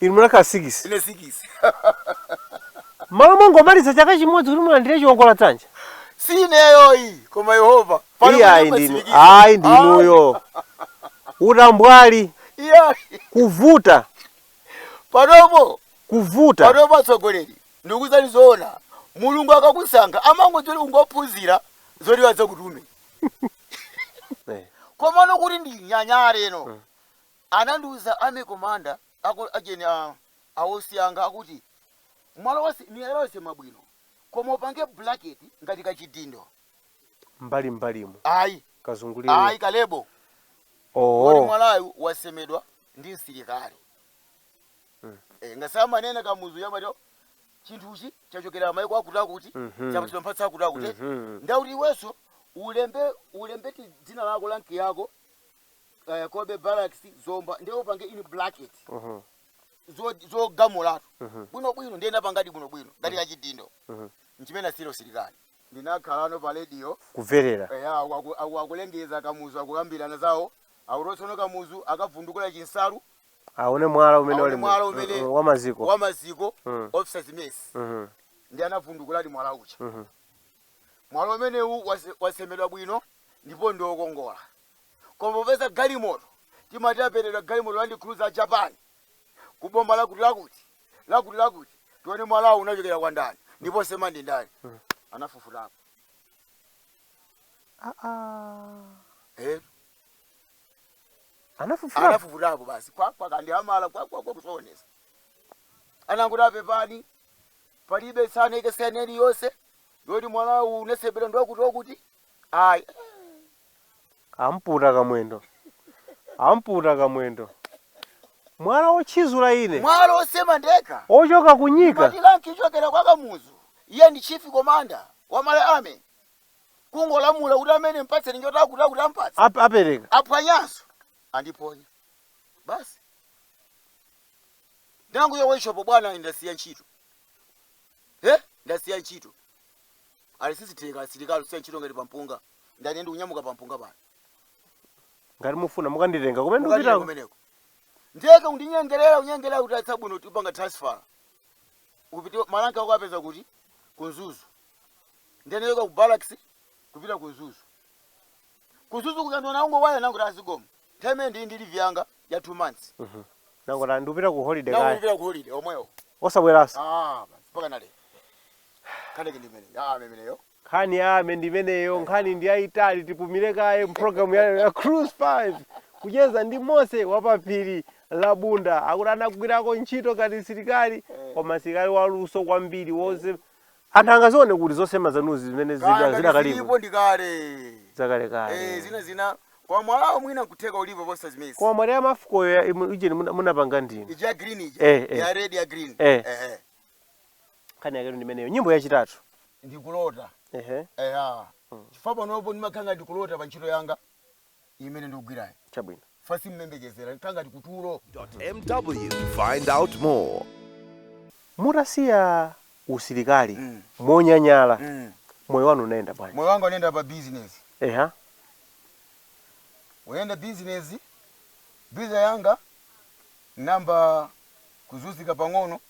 Inu munakhala sikisi. ine sikisi. M'malo mongomaliza chaka chimodzi kuti mulandire chiwongola dzanja. Si ineyoyi, koma Yehova. Pali Iye ayi kunyumba ndinu. sindikisa. Ayi ndinuyo. Utambwali, Ah, iye ayi. kuvuta, Panopo, kuvuta. panopo atsogoleri, ndikuuzani zoona. Mulungu akakusankha amangodzera kungophunzira zoti adzakutume. Eh. Komano kuti ndinyanyale no. Anandiuza army commander ako a general a OC anga akuti mwala onse miyala yonse mwabwino koma upange bracket ngati kachidindo. mbali mbalimu Ayi kazungulire ayi left kalebo poti ooh mwalayu wasemedwa ndi msilikali. mm. Eh, ngati samanena kamuzu yamati chinthuchi chachokera maiko akutiakuti mhm chapatsidwa mphatso akutiakuti mhm ndiye akuti iwenso ulembe ulembe ti dzina lako rank yako kaya Cobbe barracks zomba ndiye upange in bracket zo- zogamulatu bwinobwino ndiye napangadi bwinobwino ngati kachidindo nchimene asira usilikali ndinakhalano pa radio kuverera eya aku- aku- aku- akulengeza kamuzu akukambirana zawo akuti tsono kamuzu akavundukula chinsalu aone mwala umene aone uli mu- mwala umene mm, wa maziko wa maziko Mm. officers mess Mhm. ndiye anavundukuladi mwala uja Mhm. mwala umenewu wase- wasemedwa bwino ndipo ndiokongola koma popeza galimoto timati aperedwa galimoto land cruiser a japan ku boma lakuti lakuti lakuti lakuti tione mwalawo unachokera kwa ndani ndipo wosema ndi ndani anafufutapo Ah, ah. eh anafufuta anafufutapo basi kwakwaka ndi hamala kwakwakwa kusaonesa anangoti a pepani palibe sana ikesene iliyonse yoti mwalawu unasemedwa ndiwakuti wakuti ayi amputa kamwendo amputa kamwendo mwala wotchizula ine mwala osema ndeka ochoka ku Nyika amati rank ichokera kwa kamuzu iye ndi chief komanda wa Malawi army kungolamula kuti amene mpatseni nyota akuti akuti ampatse Ap- apereka aphwanyanso andiponya basi nangu yo workshop bwana ndasiya ntchito he ndasiya ntchito ali sizitheka asilikali kusiya ntchito ngati pampunga ndani ndikunyamuka pampunga pano ngati mufuna mukanditenga kumene mukatira ndikupitako kumeneko ndiyeke kundinyengerera kunyengerera kuti a chabwino tipanga transfer upite ma rank ako apeza kuti ku Mzuzu ndinachoka ku barracks kupita ku Mzuzu ku Mzuzu kuja ndiona ungowaya nangoti a zikomo nthawi imene ndili ndi leave yanga ya two months nangoti ndikupita ku holiday kaya naulipira ku holiday omwewo osabweranso Ah, basi, mpaka nale kaneke ndimene ah memeneyo nkhani ya army ndimeneyo nkhani ndi yayitali tipumire kaye mpulogalamu ya, ya cruise 5 kucheza ndi mose wapaphiri la bunda akuti anagwirako ntchito ngati msilikali koma msilikali waluso kwambiri wonse anthu angazione kuti zosema zanuzi zimene zida- kaya ngati zidakalipo zilipo ndi kale eh zakalekale zina zina kwa mwalawo mwina kutheka ulipo posa zimezi koma mwati ya MAFCO yo ya- imu- ujeni muna- munapanga ndinu ija ya green ija Eh, eh. ya red ya green Eh. ehe nkhani yaketu ndimeneyo nyimbo yachitatu ndikulota ehe eya chifukwa panopo ndimakhala ngati ndikulota pa ntchito yanga imene ndikugwirayi chabwino chifukwa simmayembekezera nkhala ngati kutulo MW. Find out more. Mutasiya usilikali Mm. monyanyala Mm. moyo wanu unayenda bwanji? moyo wanga unayenda pa business Eha. unayenda business biza yanga nayamba kuzunzika pang'ono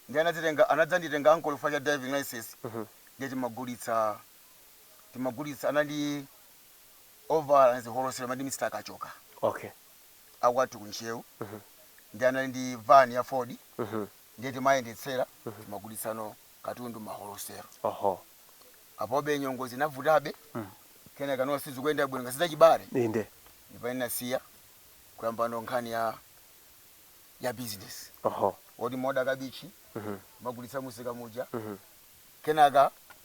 ndiye anadzitenga anadzanditenga ankolo chifukwa cha driving license Mhm. ndiye timagulitsa timagulitsa anandi ovala ngati holosera amati Mr Kachoka okay akwathu ku Ntcheu ndiye anali ndi van ya Ford ndiye timayendetsera timagulitsano katundu mma holosero oho apobe nyengo zinavutabe kenaka no sizikuyenda bwino ngati zachibale inde ndi pamene ndinasiya kuyambano nkhani ya ya business oho yoti mmaoda kabichi mmagulitsa musika muja kenaka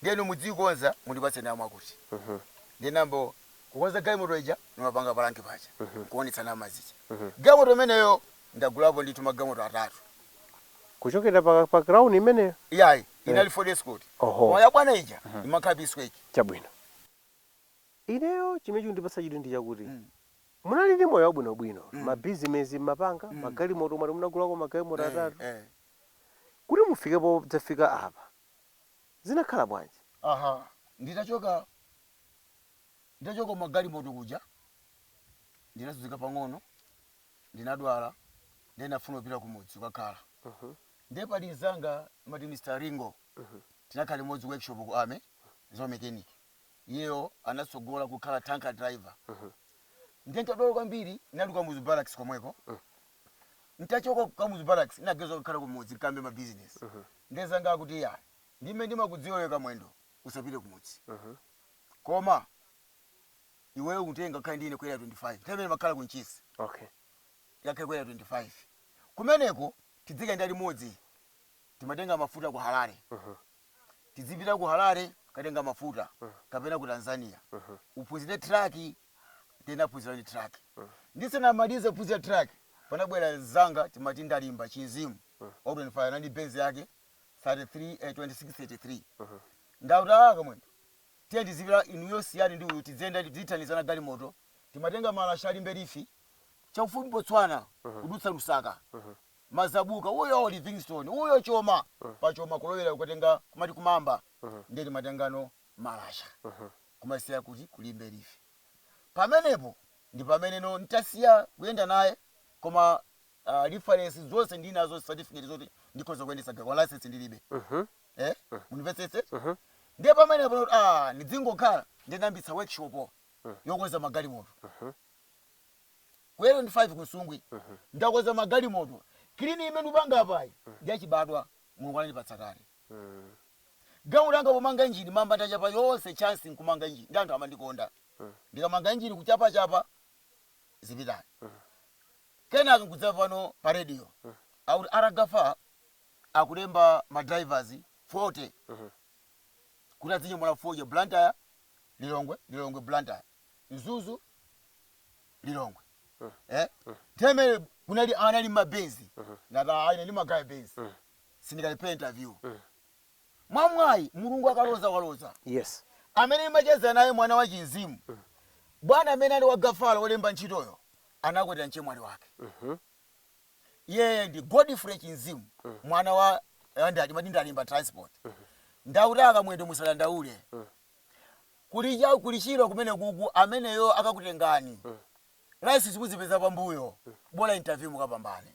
ndiye inu mudziikonza mundipatse ndalama mwakuti ndiye nayamba kukonza galimoto ija ndimapanga pa rank paja nkuonetsa ndalama zija galimoto imeneyo ndagulapo ndithu magalimoto atatu kuchokera pa, pa crown imeneyo iyayi Eh. inali ford escort koma oho yabwana ija imakhala pisquake chabwino ineyo chimene chikundipatsa chidwi ndi chakuti Mm. munali ndi moyo wabwinobwino Mm. mabizinesi mmapanga Mm. magalimoto mwati munagulako magalimoto eh, atatu eh. Kuti mufike podzafika apa, zinakhala bwanji? Aha, nditachoka, nditachoka magalimoto kuja, ndinazunzika pang'ono, ndinadwala, ndiye ndinafuna kupita kumudzi kukakhala. Ndiye pali mnzanga amati Mr. Ringo, tinakhala limodzi ku workshop ku army, za umechanic. Iyeyo anatsogola kukhala tanker driver. Ndiye ndinkadwala kwambiri, ndinali ku Kamuzu Barracks komweko. ntachoka ku kamuzu barracks naganiza kukakhala kumudzi nkayambe ma business nde mzanga akuti iyayi ndime ndimakudziwa iwe kamwendo usapite kumudzi koma iweyo utenge ukakhale ndi ine ku area 25 nthawi imene makhala ku ntchisi okay tikakhale ku area 25 kumeneko tidzikayenda limodzi timatenga mafuta ku harare tidzipita ku harare katenga mafuta kapena ku tanzania uphunzire traki ndinaphunziradi truck. Ndisanamalize kuphunzira truck, panabwera mzanga timati Ndalimba, Chizimu, wa ku 25 anali ndi Benz yake 33 eh, 2633. Nde akuti ah Kamwendo, tiye tizipita inuyo siyani ndi uyu tidziyenda tizithandizana galimoto. Timatenga malasha a Limbe Leaf chakufupi Botswana kudutsa Lusaka. Mazabuka uyo Livingstone uyo Choma, pa Choma kulowera kukatenga kumati ku Maamba ndiye timatengano malasha. kumasiya kuti ku Limbe Leaf. Pamenepo ndipameneno ntasiya kuyenda naye koma uh, reference zonse ndinazo certificate zoti ndikhoza kuyendetsa galimoto koma license ndilibe. Eh? Mundimvetsetse? Ndiye pamenepo ndikuti ah, ndidzingokhala ndinayambitsa workshop yokonza magalimoto. Ku Area 25 ku Nsungwi ndakonza magalimoto. Clean imene ndikupanga apayi ndi yachibadwa Mulungu anandipatsa kale. Gawo langa pomanga injini mamba ndachapa yonse chance nkumanga injini ndiye anthu amandikonda ndikamanga injini kuchapachapa zipitayo kenaka nkudzamva pano pa radio akuti R Gaffar akulemba ma drivers 40 kuti adzinyamula fodya Blantyre Lilongwe Lilongwe Blantyre Mzuzu Lilongwe eh nthawi imeneyo kunali anali ma Benz ndati aa ine ndimagaya Benz sindikalephera interview mwamwayi mulungu akaloza waloza yes amene ndimacheza naye mwana wa Chimzimu bwana amene ali wa Gaffar olemba ntchitoyo anakwatira mchemwali wake iyeyo ndi Godfrey Chimzimu mwana wa eh, ndati mati ndilibe transport ndiye akuti a Kamwendo musadandaule kuli cha kuli Chirwa kumenekuko ameneyo akakutengani license muzipeza pambuyo bola interview mukapambane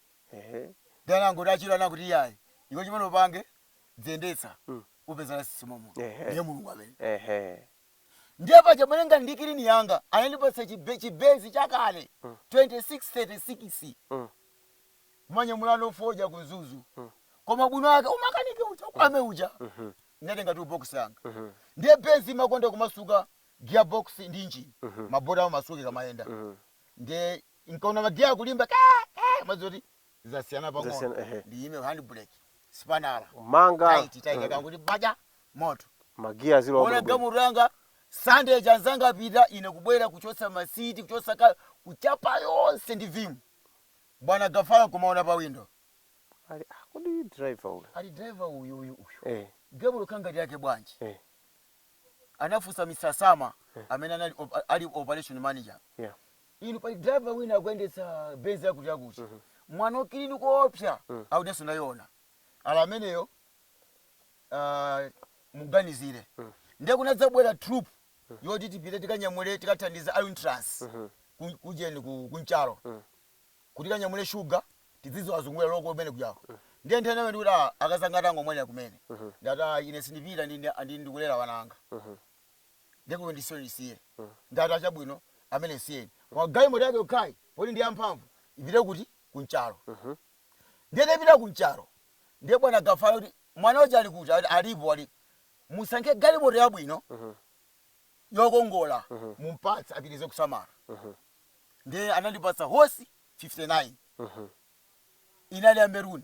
ehe ndiye anangoti a Chirwa akuti iyayi iwe chimene upange dziyendetsa Mm. upeza license mommo Ehe. ndiye mulungu amene ehe ndiye paja mmene ngati kilini yanga anandipatsa chibe- chi Benz chakale Mm. 2636 Mm. kumanyamulano fodya ku Mzuzu Mm. koma ubwino wake umakanike uja kwame uja Mhm. ndatenga toolbox yanga Mhm. ndiye Benz imakonda kumasuka gearbox ndi injini Mhm. mabolt amasuka ikamayenda Mhm. ndiye ndikaona ma gear akulimba ka ka mwazi oti zasiyana pang'ono Zasiyana, ehe. ndiyime hand brake spanner Manga. tight taika Mhm. kanguti baja moto Magiya zilo ona wabwino. galimoto yanga Sunday anzanga apita ine kubwera kuchotsa masiti kuchotsa ka kuchapa yonse ndi Vim bwana Gaffar kumaona pa windo Ali ah, kodi driver uyu. ali driver uyu uyu uyu Eh. galimoto ngati yake bwanji Eh. anafunsa Mr Sama amene anali op- ali operation manager Yeah. inu pali driver wina akuyendetsa Benz yakuti yakuti mwana wa kilini koopsa akuti inenso ndayiona ali ameneyo ah, muganizire ndiye kunadzabwera trip yoti tipite tikanyamule tikathandiza a Unitrans ku- kujeni ku- ku Nchalo kuti tikanyamule shuga tidzizo azungulira local kumene kujako ndiye nthawi imeneyo nkuti ah, akazi anga atangomwalira kumene ndati ah, ine sindipita ndi- ndi- ndi- ndikulera wananga ndiye kuti ndisiye ndisiye ndati chabwino amene msiyeni koma galimoto yake yokhayi poti ndi yamphamvu ipite kuti ku Nchalo ndiye tapita ku Nchalo ndiye bwana Gaffar kuti mwana uja ali kuti Ati, alipo ali musankhe galimoto yabwino yokongola mumpatse apitirize kusamala ndiye anandipatsa hosi 59 inali ya maroon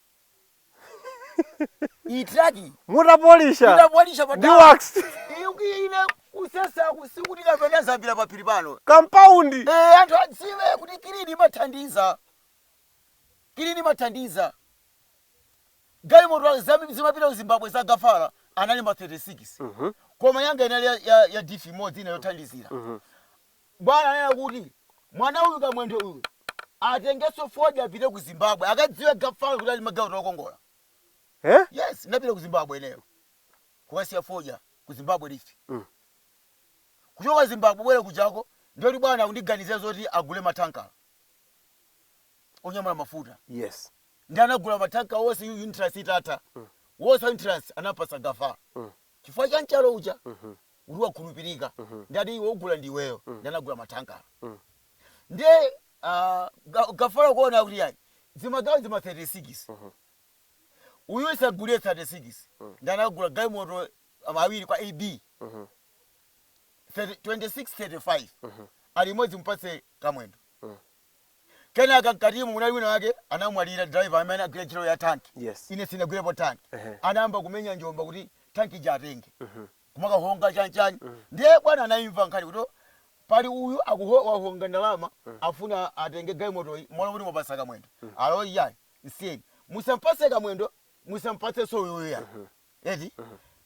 iyi traki mutapolisha itapolisha ndi patala wax ine kusesaku sikuti kapena azambira paphiri pano kampaundi Eh, anthu adziwe kuti kilini imathandiza kilini imathandiza galimoto zam- zimapita ku zimbabwe za gafala anali ma 36 koma yanga inali ya, ya, ya difi imodzi ina yothandizira Bwana ananena kuti mwana uyu kamwendo uyu atengeso fodya apite ku Zimbabwe akadziwe gafala kuti ali magalimoto okongola eh yes ndinapita ku Zimbabwe ineyo kukasiya fodya ku Zimbabwe Leaf mm. kuchoka Zimbabwe bwera kujako ndiye kuti bwana akundiganizira zoti agule mathankala onyamula mafuta yes ndi anagula mathanka horse and trailers itatu mm. horse and trailers anampatsa gafala mm. chifukwa cha mchalo uja mm -hmm. kuti wakhulupirika ndi ati iwe ugula ndi iweyo ndi anagula mathankala nde ah, ga- gafala kuona kuti yani zimagawo zima 36 uyu isagulire 36 ndi anagula galimoto ama awiri kwa ab 2635 ali imodzi mpatse kamwendo kenaka mkatimu munali wina wake anamwalira driver amene agwira ntchito ya tanki Yes. ine sinagwirepo tanki Ehe. anayamba kumenya njomba kuti tanki ija atenge kumakahonga chani chani ndiye bwana anaimva nkhani kuti pali uyu akuho wahonga ndalama afuna atenge galimotoyi mmalo moti mwapatsa kamwendo ali iyayi msiyeni musampatse kamwendo musampatsenso uyuyu iyayi eti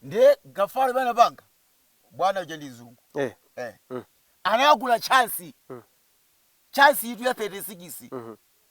ndiye gafala pamene anapanga bwana uja ndi mzungu Eh. eh. anagula chansi chansi itu ya 36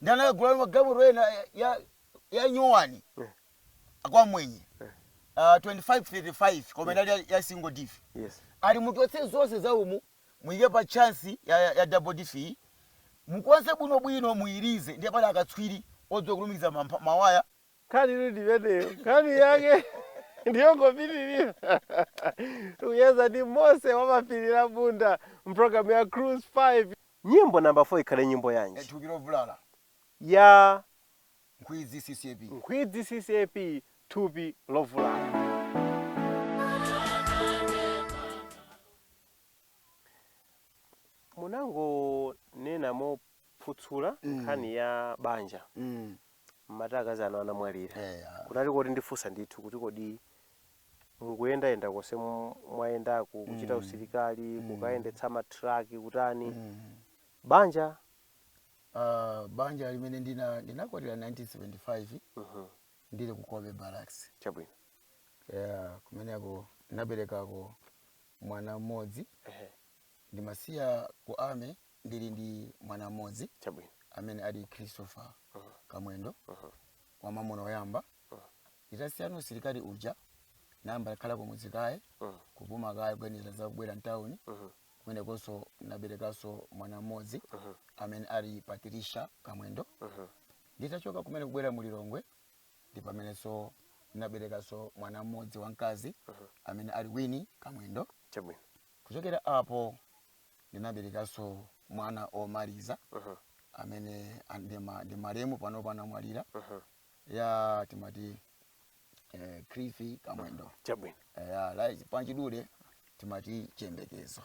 ndi anakagula magalimoto ena ya, ya nyowani kwa mwenye uh, 2535 koma inali ya, ya single diff yes ali muchotse zonse za umu muyike pa chansi ya, ya, ya double diff iyi mukonze bwinobwino muyirize ndiye pali akatswiri odziwa kulumikiza mampa- mawaya nkhani iri ndimeneyo nkhani yake ndiyongopitirira tikucheza ndi Mose wa pa phiri la Bunda mpulogalamu ya cruise 5 Nyimbo namba 4 ikhale nyimbo E yanji? thupi lobvulala Ya Nkhwidzi CCAP. Nkhwidzi CCAP thupi lobvulala. Munangonena mophutsula Mm. nkhani ya banja Mm. mmati akazi anu anamwalira. Eya. Kunali koti ndifunsa ndithu kuti kodi mukuyendayenda konse mu- mwayendaku kuchita Mm. usilikali Mm. kukayendetsa matraki kutani Mm. banja Ah, banja limene ndina ndinakwatira 1975 Mhm. ndili ku Kobe Barracks. chabwino Yeah, kumeneko ndinaberekako mwana mmodzi Ehe, ndimasiya ku army ndili ndi mwana mmodzi chabwino amene ali Christopher Mhm. Kamwendo Mhm. wamamuna oyamba Mhm. Nditasiyano usilikali uja nayamba kukhala kumudzi kaye Mm. kupuma kaye kuganizira za kubwera mtawuni Mhm. kumenekonso naberekanso mwana mmodzi Mhm. amene ali Patricia Kamwendo Mhm. nditachoka kumene kubwera mu Lilongwe ndi pamenenso naberekanso mwana mmodzi wamkazi Mhm. amene ali Winnie Kamwendo Chabwino. kuchokera apo ndinaberekanso mwana omaliza Mhm. amene an- ndi ma- ndi malemu pano pano anamwalira Mhm. ya timati eh, Cliffy Kamwendo chabwino eh, ya Lies Panchidule timati chiyembekezo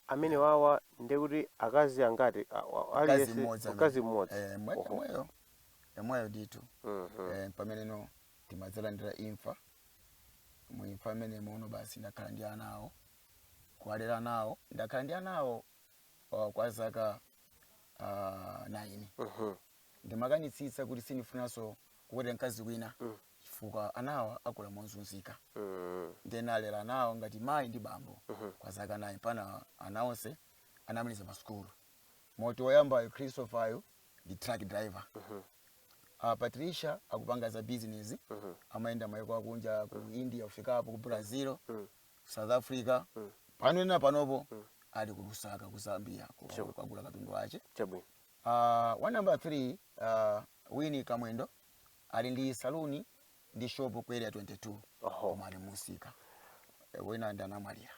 amene wawa ndiye kuti akazi angati a- wa- Mkazi aliyense- mmodzi amene- mkazi mmodzi eh, mwe- Oho. mweyo emweyo ndithu Mhm. eh, pameneno timadzalandira imfa mu imfa imene muno basi ndakhala ndi ana awo kuwalera nawo ndakhala ndi ana awo uh, kwa zaka uh, 9 Mhm. ndimakanitsitsa kuti sindifunanso kukwatira mkazi wina chifukwa anawa akula mozunzika ndiye nalera anawa ngati mayi ndi bambo kwa zaka 9 pana ana onse anamaliza pa sukulu moti woyambayo Christopheryo ndi truck driver uh, patricia akupanga za business amayenda mayiko akunja ku india kufikapo ku brazil south africa pano ena panopo ali ku lusaka ku zambia ku- kwagula katundu wace chabwino Uh, wa number 3 uh, Winnie Kamwendo ali ndi saluni ndi shop ku area 22 Oho. kumaali musika Eh, wina ndi anamwalira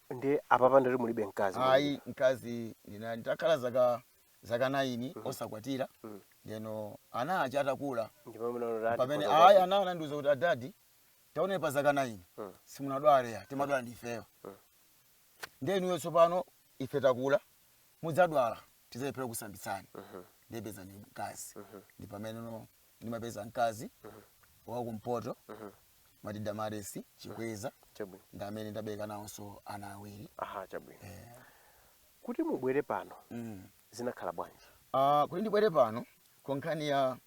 ndi apapa ndati mulibe mkazi ayi mkazi ndina- nditakhala zaka zaka 9 osakwatira Mm. ndeno ana aja atakula ndipo munaona pamene ati- ayi ana anandiuza kuti adadi taonani pa zaka 9 Mm. simunadwale Ya, timadwala ndifeyo Mm. nde inuyo tsopano ife takula mudzadwala tidzalephera kukusambitsani nde pezani mkazi ndi pameneno ndimapeza mkazi wakumpoto mati damaresi chikweza chabwino ndi amene ndabereka nawonso ana awiri aha chabwino kuti mubwere pano mm. zinakhala bwanji Ah, kuti ndibwere pano ndi nkhani ya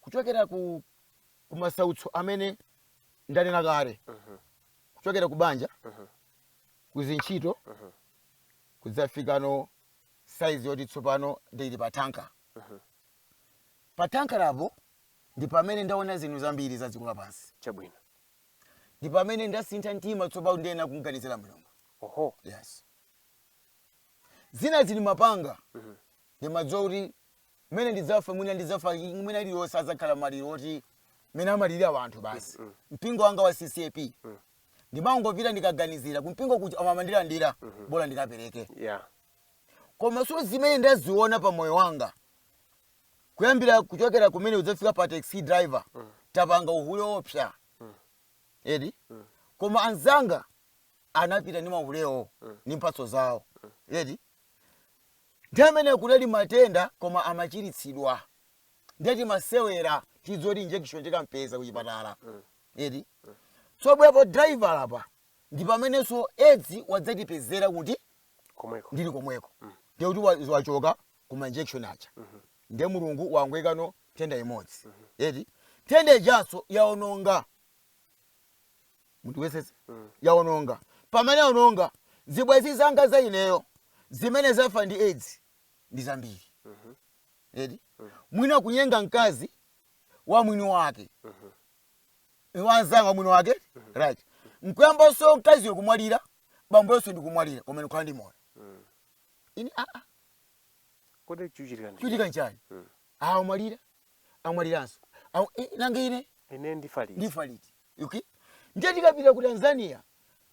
kuchokera ku kumasautso amene ndanena kale kuchokera ku banja kuzintchito kudzafikano saizi yoti tsopano ndili pa tanker pa tanker apo ndi pamene ndaona zinthu zambiri za dziko lapansi chabwino ndi pamene ndasintha mtima tsopano ndiyenera kuganizira mulungu oho yes zina zimene ndimapanga ndimadziwa kuti mmene ndidzafa mwina ndidzafa mwina iliyonse adzakhala maliro oti mmene amalirira wanthu basi mpingo wanga wa ccap ndimangopita ndikaganizira kumpingo kuja amandilandira bola ndikapereke yeah koma so zimene ndaziona pa moyo wanga kuyambira kuchokera kumene kudzafika pa taxi driver tapanga uhule oopsa eti koma anzanga anapita ndi mahulewo ndi mphatso zawo eti ndi mmene kunali matenda koma amachiritsidwa ndiye timasewera tiziti injection tikampeza kuchipatala eti tsono bwepo driver apa ndi pamenenso edzi yadzatipezera kuti komweko ndili komweko ndiye kuti wa- wachoka ku mainjection aja ndiye mulungu wangoyikano nthenda imodzi eti nthenda ijanso yaononga munthu wesewese yaononga pamene yaononga zibwenzi zanga za ineyo zimene zafa ndi aids ndi zambiri eti mwina kunyenga mkazi wa mwini wake wa mnzanga wa mwini wake right nkuyambanso mkaziyo kumwalira bambonso ndikumwalira koma ndikukhala ndi moyo ine aa kodi chikuchitika ndi chikuchitika nchani awo amwalira amwaliranso Awo- eh, nanga ine ine ndifa liti ndifa liti okay ndiye tikapita ku tanzania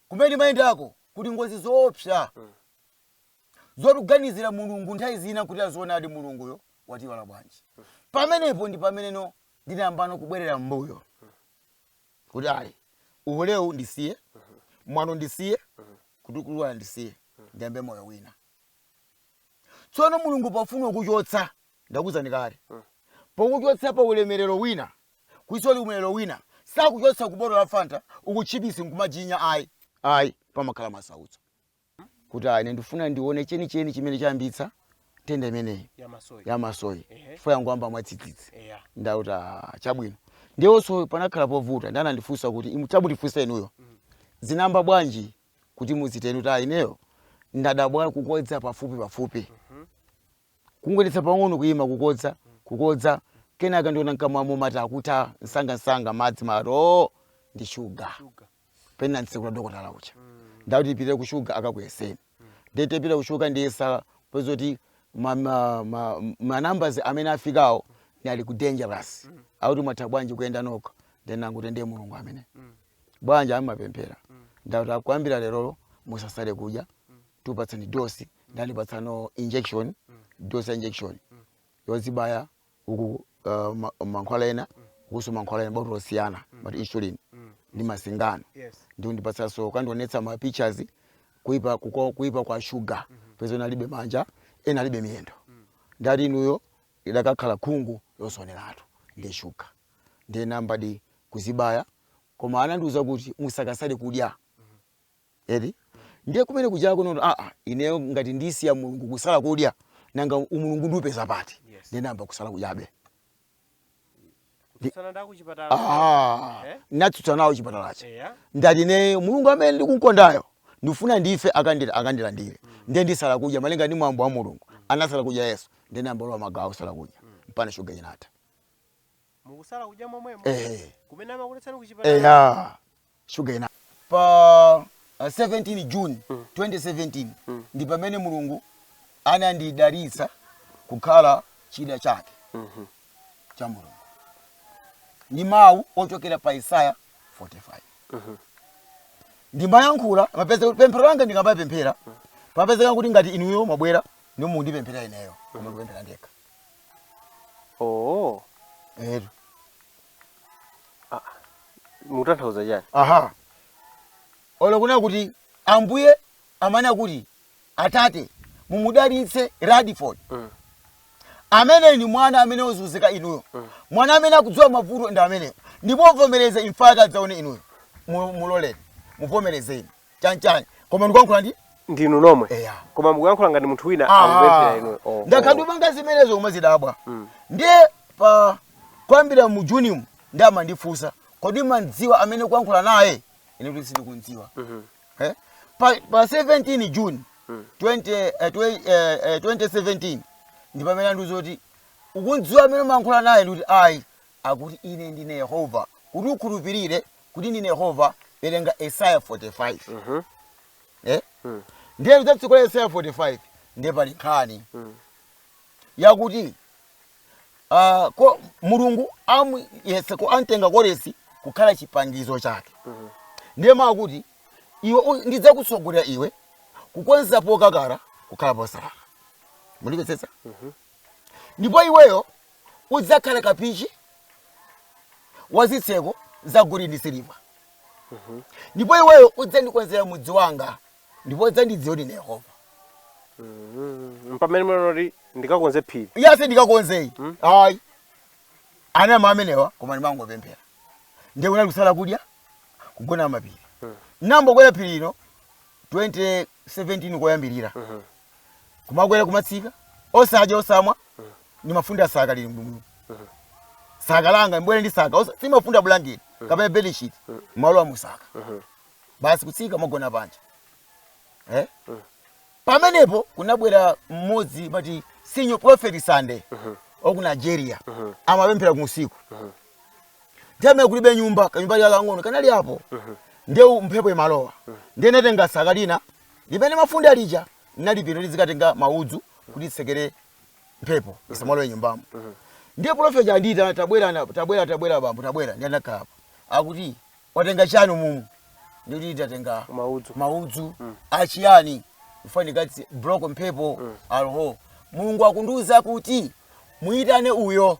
kumene mayendako kuti ngozi zoopsa zoti kuganizira mulungu nthawi zina nkuti aa zoonadi mulunguyo watiwala bwanji pamenepo ndi pameneno ndinayambano kubwerera m'mbuyo kuti ayi uhulewu ndisiye mwano ndisiye kutukwana ndisiye ndiyambe moyo wina tsono mulungu pofuna kukuchotsa ndakuzani kale pokuchotsa pa ulemerero wina kuti uone ulemerero wina sakuchotsa ku botolo la fanta kutchipisi nkumajinya ayi ayi pamakhala masautso kuti ah, ine ndifuna ndione chenicheni chimene chayambitsa nthenda imeneyi ya masoyi chifukwa yangoyamba mwadzidzidzi ndati ah, chabwino ndiyenso panakhala povuta ndi anandifunsa kuti "Imu- chabwino ndifunsa inuyo Mm. zinayamba bwanji kuti muziteni kuti ah, ineyo ndadabwa kukodza pafupi pafupi kungoyendetsa pang'ono kuyima kukodza kukodza kenaka ndiona mkamwamo mate akutha msangamsanga madzi amati ndi shuga pena m'nseku la dokotala uja ndikuti tipite ku shuga akakuyeseni ndiye tipita ku shuga kundiyesa kupeza kuti ma- ma- ma- manambers amene afikawo nali ku dangerous akuti mwatha bwanji kuyenda nokha nde ndangoti nde mulungu amene bwanji amapemphera ndakuti kuyambira lerolo musasale kudya tikupatseni dosi ndi kundipatsano injection dosi ya injection yozibaya uku uh, ma- mankhwala ena ukuso mankhwala ena botolo osiyana but insulin ndi masingano Yes. ndi kundipatsanso kukandionetsa ma pictures kuipa, kuko- kuipa kwa shuga kupeza ena alibe manja ena alibe miyendo ndati inuyo idakakhala khungu yosaoneratu ndi shuga ndiye ndayambadi kuzibaya koma anandiuza kuti musakasale kudya Eti? Ndiye kumene kujako no a a ineyo ngati ndisiya Mulungu kusala kudya nanga umulungu ndiupeza pati? Yes. Ndiye ndayamba kusala kudyabe. Kutsana ndaku chipatala. Ah, Eh? natsutsa nawo chipatalacho. Eya. Ndati ineyo Mulungu amene ndikumukondayo ndifuna ndife akandira akandilandire. Ndiye ndisala kudya malinga ndi mwambo wa Mulungu. Anasala kudya Yesu. Ndiye ndayamba kulowa magawo osala kudya. Mpaka shuga inatha. mukusala kudya momwemo ehe kumene amakuletsani kuchipatala eya shuga inatha pa uh, 17 june 2017 ndi pamene mulungu anandidalitsa kukhala chida chake cha mulungu ndi mawu ochokera pa isaya 45 ndimayankhula mapeza pemphero langa ndikamapemphera papezeka kuti ngati inuyo mwabwera ndi mukundipempherera ineyo koma kupemphera ndekha oo etu mukutanthauza chani aha olo kunena kuti ambuye amanena kuti atate mumudalitse radiford Mm. amene ni mwana amene wozunzika inuyo mwana amene akudziwa mavuto ndi ameneyo ndipo muvomereze imfa yake adzaone inuyo Mu- muloleni muvomerezeni chanchani koma ndikuyankhula ndi ndinu nomwe Eya. koma mukuyankhula ngati munthu wina Ah, akupemphera inu Oh, ndakhala oh. ndikupanga zimenezo kumazidabwa ndiye pa kuyambira mu juni mu ndi amandifunsa kodi mumamudziwa amene mukuyankhula naye ine kuti sindikumudziwa Eh? pa, pa 17 june 20, eh, twe- eh, eh, 2017 ndi pamene anandiuza kuti ukumudziwa amene umayankhula naye ndikuti ayi akuti ine ndine yehova kuti ukhulupirire kuti ndine yehova werenga esaya 45 eh? ndiye kudzatsegula esaya 45 ndiye pali nkhani yakuti ah, ko mulungu amu- yese ko amtenga koresi kukhala chipangizo chake ndiye amati iwe u- ndidzakutsogolera iwe kukonza pokakala kukhala posalala mulimvetsetsa ndipo iweyo udzakhala kapichi wa zitseko za golide ndi siliva ndipo iweyo udzandikonzera mudzi wanga ndipo udzandidziwa kuti ndine yehova mpamene munanoti ndikakonze phiri yase ndikakonzeyi ayi anama amenewa koma ndimangopemphera ndiye kunali kusala kudya kugona mapiri nambokwera phiri ino 2017 koyambirira kumakwera kumatsika osadya osamwa ndi mafunda saka lili mbwino saka langa mbwere ndi saka osa- simafunda bulangeti kapena bedishit malowa musaka basi kutsika magona panja eh? pamenepo kunabwera mmodzi mati senior prophet sunday waku nigeria amapemphera kusiku ndiye kulibe nyumba kanyumba kakang'ono kanali apo nde mphepo imalowa nde ndatenga saka lina Limene mafunda lija linali pilo ndizikatenga maudzu kuti nditsekere mphepo isamalowe nyumbamo. Ndiye pulofeti uja andiitana, tabwera ana, tabwera, tabwera bambo, tabwera. Ndiye ndinakhala apa. Akuti, watenga chiyani umumu? Ndikuti ndatenga Maudzu. maudzu achiyani? Ndifuna ndikati block mphepo alho. Mulungu akundiuza kuti muitane uyo.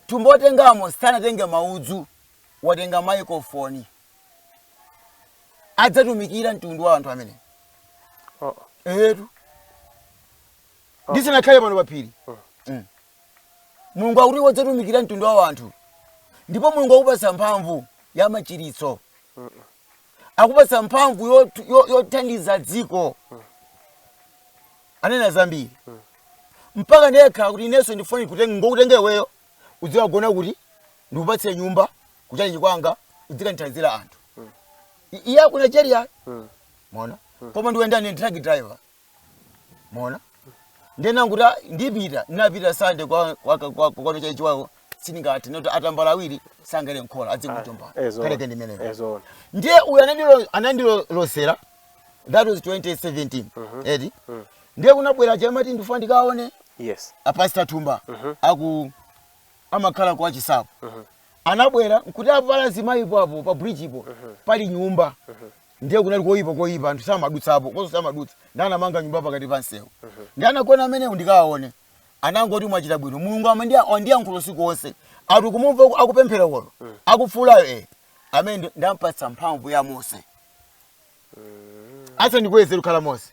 Tumbo watengamo sanatenge maudzu, watenga microphone. adzatumikira mtundu wa anthu amene Oh. etu ndisanakhale pano paphiri Mm. mulungu akuti udzatumikira mtundu wa anthu ndipo mulungu akupatsa mphamvu ya machiritso akupatsa mphamvu yot- yo- yothandiza dziko anena zambiri mpaka ndiye akuti inenso ndifuna kuti ndingokutenga iweyo udzikagona kuti ndikupatse nyumba kuchalichi kwanga udzikandithandizira anthu I- iye aku nigeria mona koma ndimayenda ndi truck driver mona ndenanguta ndipita ndinapita sande kwa kwa- kwa- kwano chalichi wako sindingathe anati atambala awiri sangakhale nkhola adzikutomba ezo kaleke ndimeneyo ezo ndiye uyu anandilo- anandilosera that was 2017 eti ndiye kunabwera chamati ndifuna ndikaone yes apasta thumba aku amakhala kwa chisapo anabwera nkuti apa pali azimayipo apo pa bridgepo pali nyumba ndiye kunali koyipa koyipa anthu samadutsapo koso samadutsa ndiye anamanga nyumba pakati pa msewu ndiye anagona amenewo ndikawaone anangoti mwachita bwino mulungu amandiya- wandiyankhula usiku wonse ati kumumva aku- akupemphera kono akufuulayo amene ndi- ndampatsa mphamvu ya mose asa ndikweze kukhala mose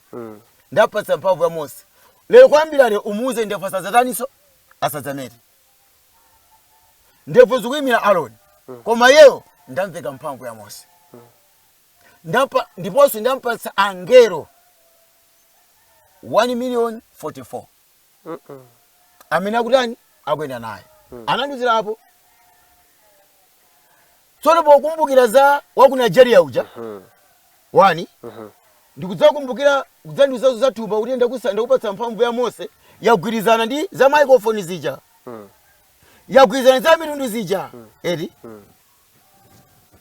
ndampatsa mphamvu ya mose lero kuyambira lero umuuze ndevu asadzatani nso asadzamete ndevu zikuyimira aroni koma yeyo ndamveka mphamvu ya mose Ndampa- ndiponso ndampatsa angelo 1 million 44 amene akutani akuyenda naye anandiuzira apo tsono pokumbukira za waku Nigeria uja wani ndikudzakumbukira kudzandiuza zo za tumba kuti ndakusa- ndakupatsa mphamvu ya mose yagwirizana ndi za microphone zija yagwirizana za mitundu zija eti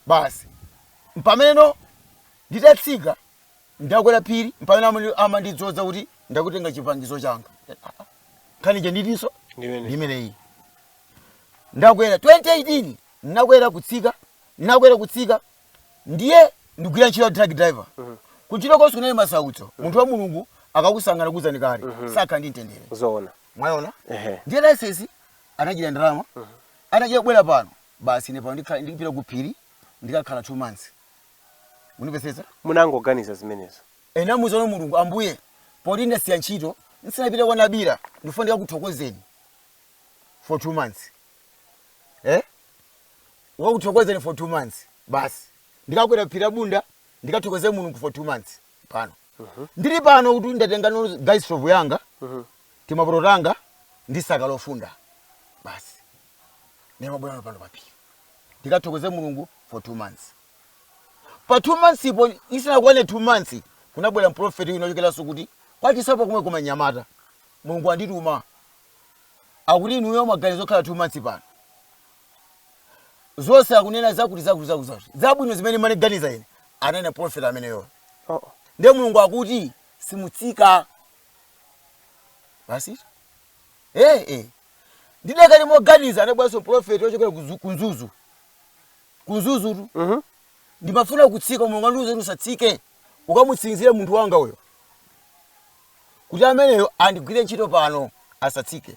basi mpameneno nditatsika Ndakwera phiri mpamene amandi- amandidzodza kuti ndakutenga chipangizo changa nkhani ija nditinso Ndimene. ndimeneyi ndakwera 2018 nakwera kutsika nakwera kutsika ndiye ndigwira ntchito ya truck driver kuntchito konse kunali masautso munthu wa mulungu akakusankha ngakhale uzanike sukhala ndi mtendere zoona mwaona Ehe. ndiye laisensi anachita ndalama anachita kubwera pano basi ine pano ndikhala- ndikupita ku phiri ndikakhala two months munapezeka munangoganiza zimenezo ndinamuuzano mulungu ambuye poti ndasiya ntchito nsinapite kwa nabila ndifuna ndikakuthokozeni for two months eh? ukakuthokozeni for two months basi ndikakwera phiri la bunda ndikathokoze mulungu for two months pano ndili pano kuti ndatenga gas stove yanga timapoto tanga ndi saka lofunda basi ndiye mmabwerano pano paphiri ndikathokoze mulungu for two months pa two months po isanakwane two months kunabwera mprofeti wina ochokeranso kuti kwachisapo komweko mnyamata mulungu wandituma akuti inuyo maganizo okhala two months pano zonse akunena zakuti zakuti zakuti zakuti zabwino zimene ndimaganiza ine anena profeti ameneyo Oh, oh. ndiye mulungu akuti simutsika basi eh eh ndidakali moganiza anabweranso mprofeti wochokera ku Zu- ku mzuzu ku mzuzutu Mhm. ndimafuna kutsika mulungu wandiuza kuti usatsike ukamutsindikire munthu wanga uyo kuti ameneyo andigwire ntchito pano asatsike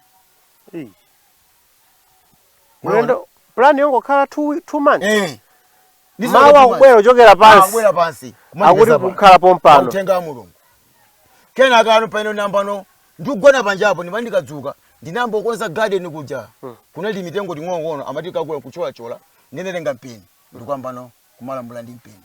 Ei. Mwaona? ulendo plan yongokhala 2 2 months Eh. Ndi mawu zaka akubwera kuchokera pansi akubwera pansi akuti kumachipeza pano. kukhala pompano uthenga wa mulungu kenaka ano pano ndinayambano ndikugona panjapo ndimati ndikadzuka ndinayamba kukonza garden kuja kunali mitengo ting'onong'ono amati ikakula kucholachola ndinatenga mpeni ndikuyambano kumalambula ndi mpeni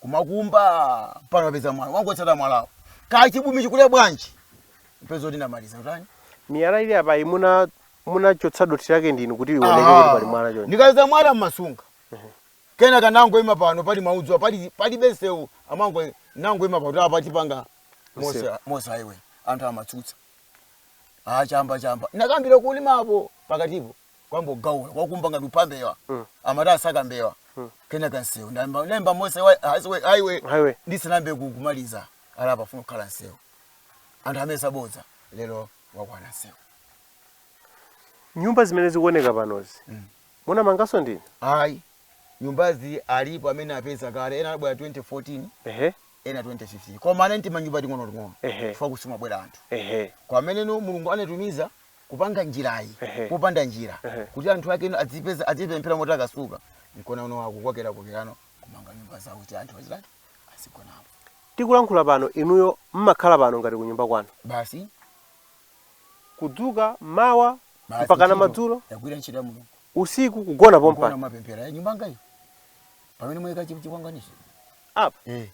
kumakumba pano wapeza mwala wangotsata mwalawo kaya chibumi chikule bwanji mpeze kuti ndamaliza kutani miyala ili apa munachotsa dothi lake ndinu kuti ioneke kuti pali mwala choncho ndikapeza mwala mmasunga kenaka nangoima pano pali maudzu pali palibe msewu amango nangoima pano kuti apa tipanga mose Msewu. mose highway anthu amatsutsa ah chamba chamba ndinakayambira kulimapo pakatipo kwangokhala kwakumba ngati akupha mbewa amati akusaka mbewa kenaka msewu ndayamba ndayamba mose wa- highway highway Highway. ndisanayambe ku- kumaliza ah apa afuna kukhala msewu anthu amayesa bodza lero wakwana msewu nyumba zimene zikuoneka panozi munamanganso ndinu ayi nyumbazi alipo amene apeza kale ena anabwera 2014 ehe ena 2015 koma anali tima nyumba ting'onoting'ono Ehe. chifukwa kusimabwera anthu ehe koma pamene mulungu anatumiza kupanga njirayi Ehe. popanda njira Ehe. kuti anthu ake ino adzipeza adzipemphera moti amasuka mkuona pano akukokerana kukokerana kumanga nyumba zawo kuti anthu azitani azigonapo tikulankhula pano inuyo mmakhala pano ngati kunyumba kwanu basi kudzuka mawa basi mpakana madzulo ndagwira ntchito ya mulungu usiku kugona Kugona pompa mapemphero ya nyumba ndi iyo pamene mwayika chikwangwanichi apa eh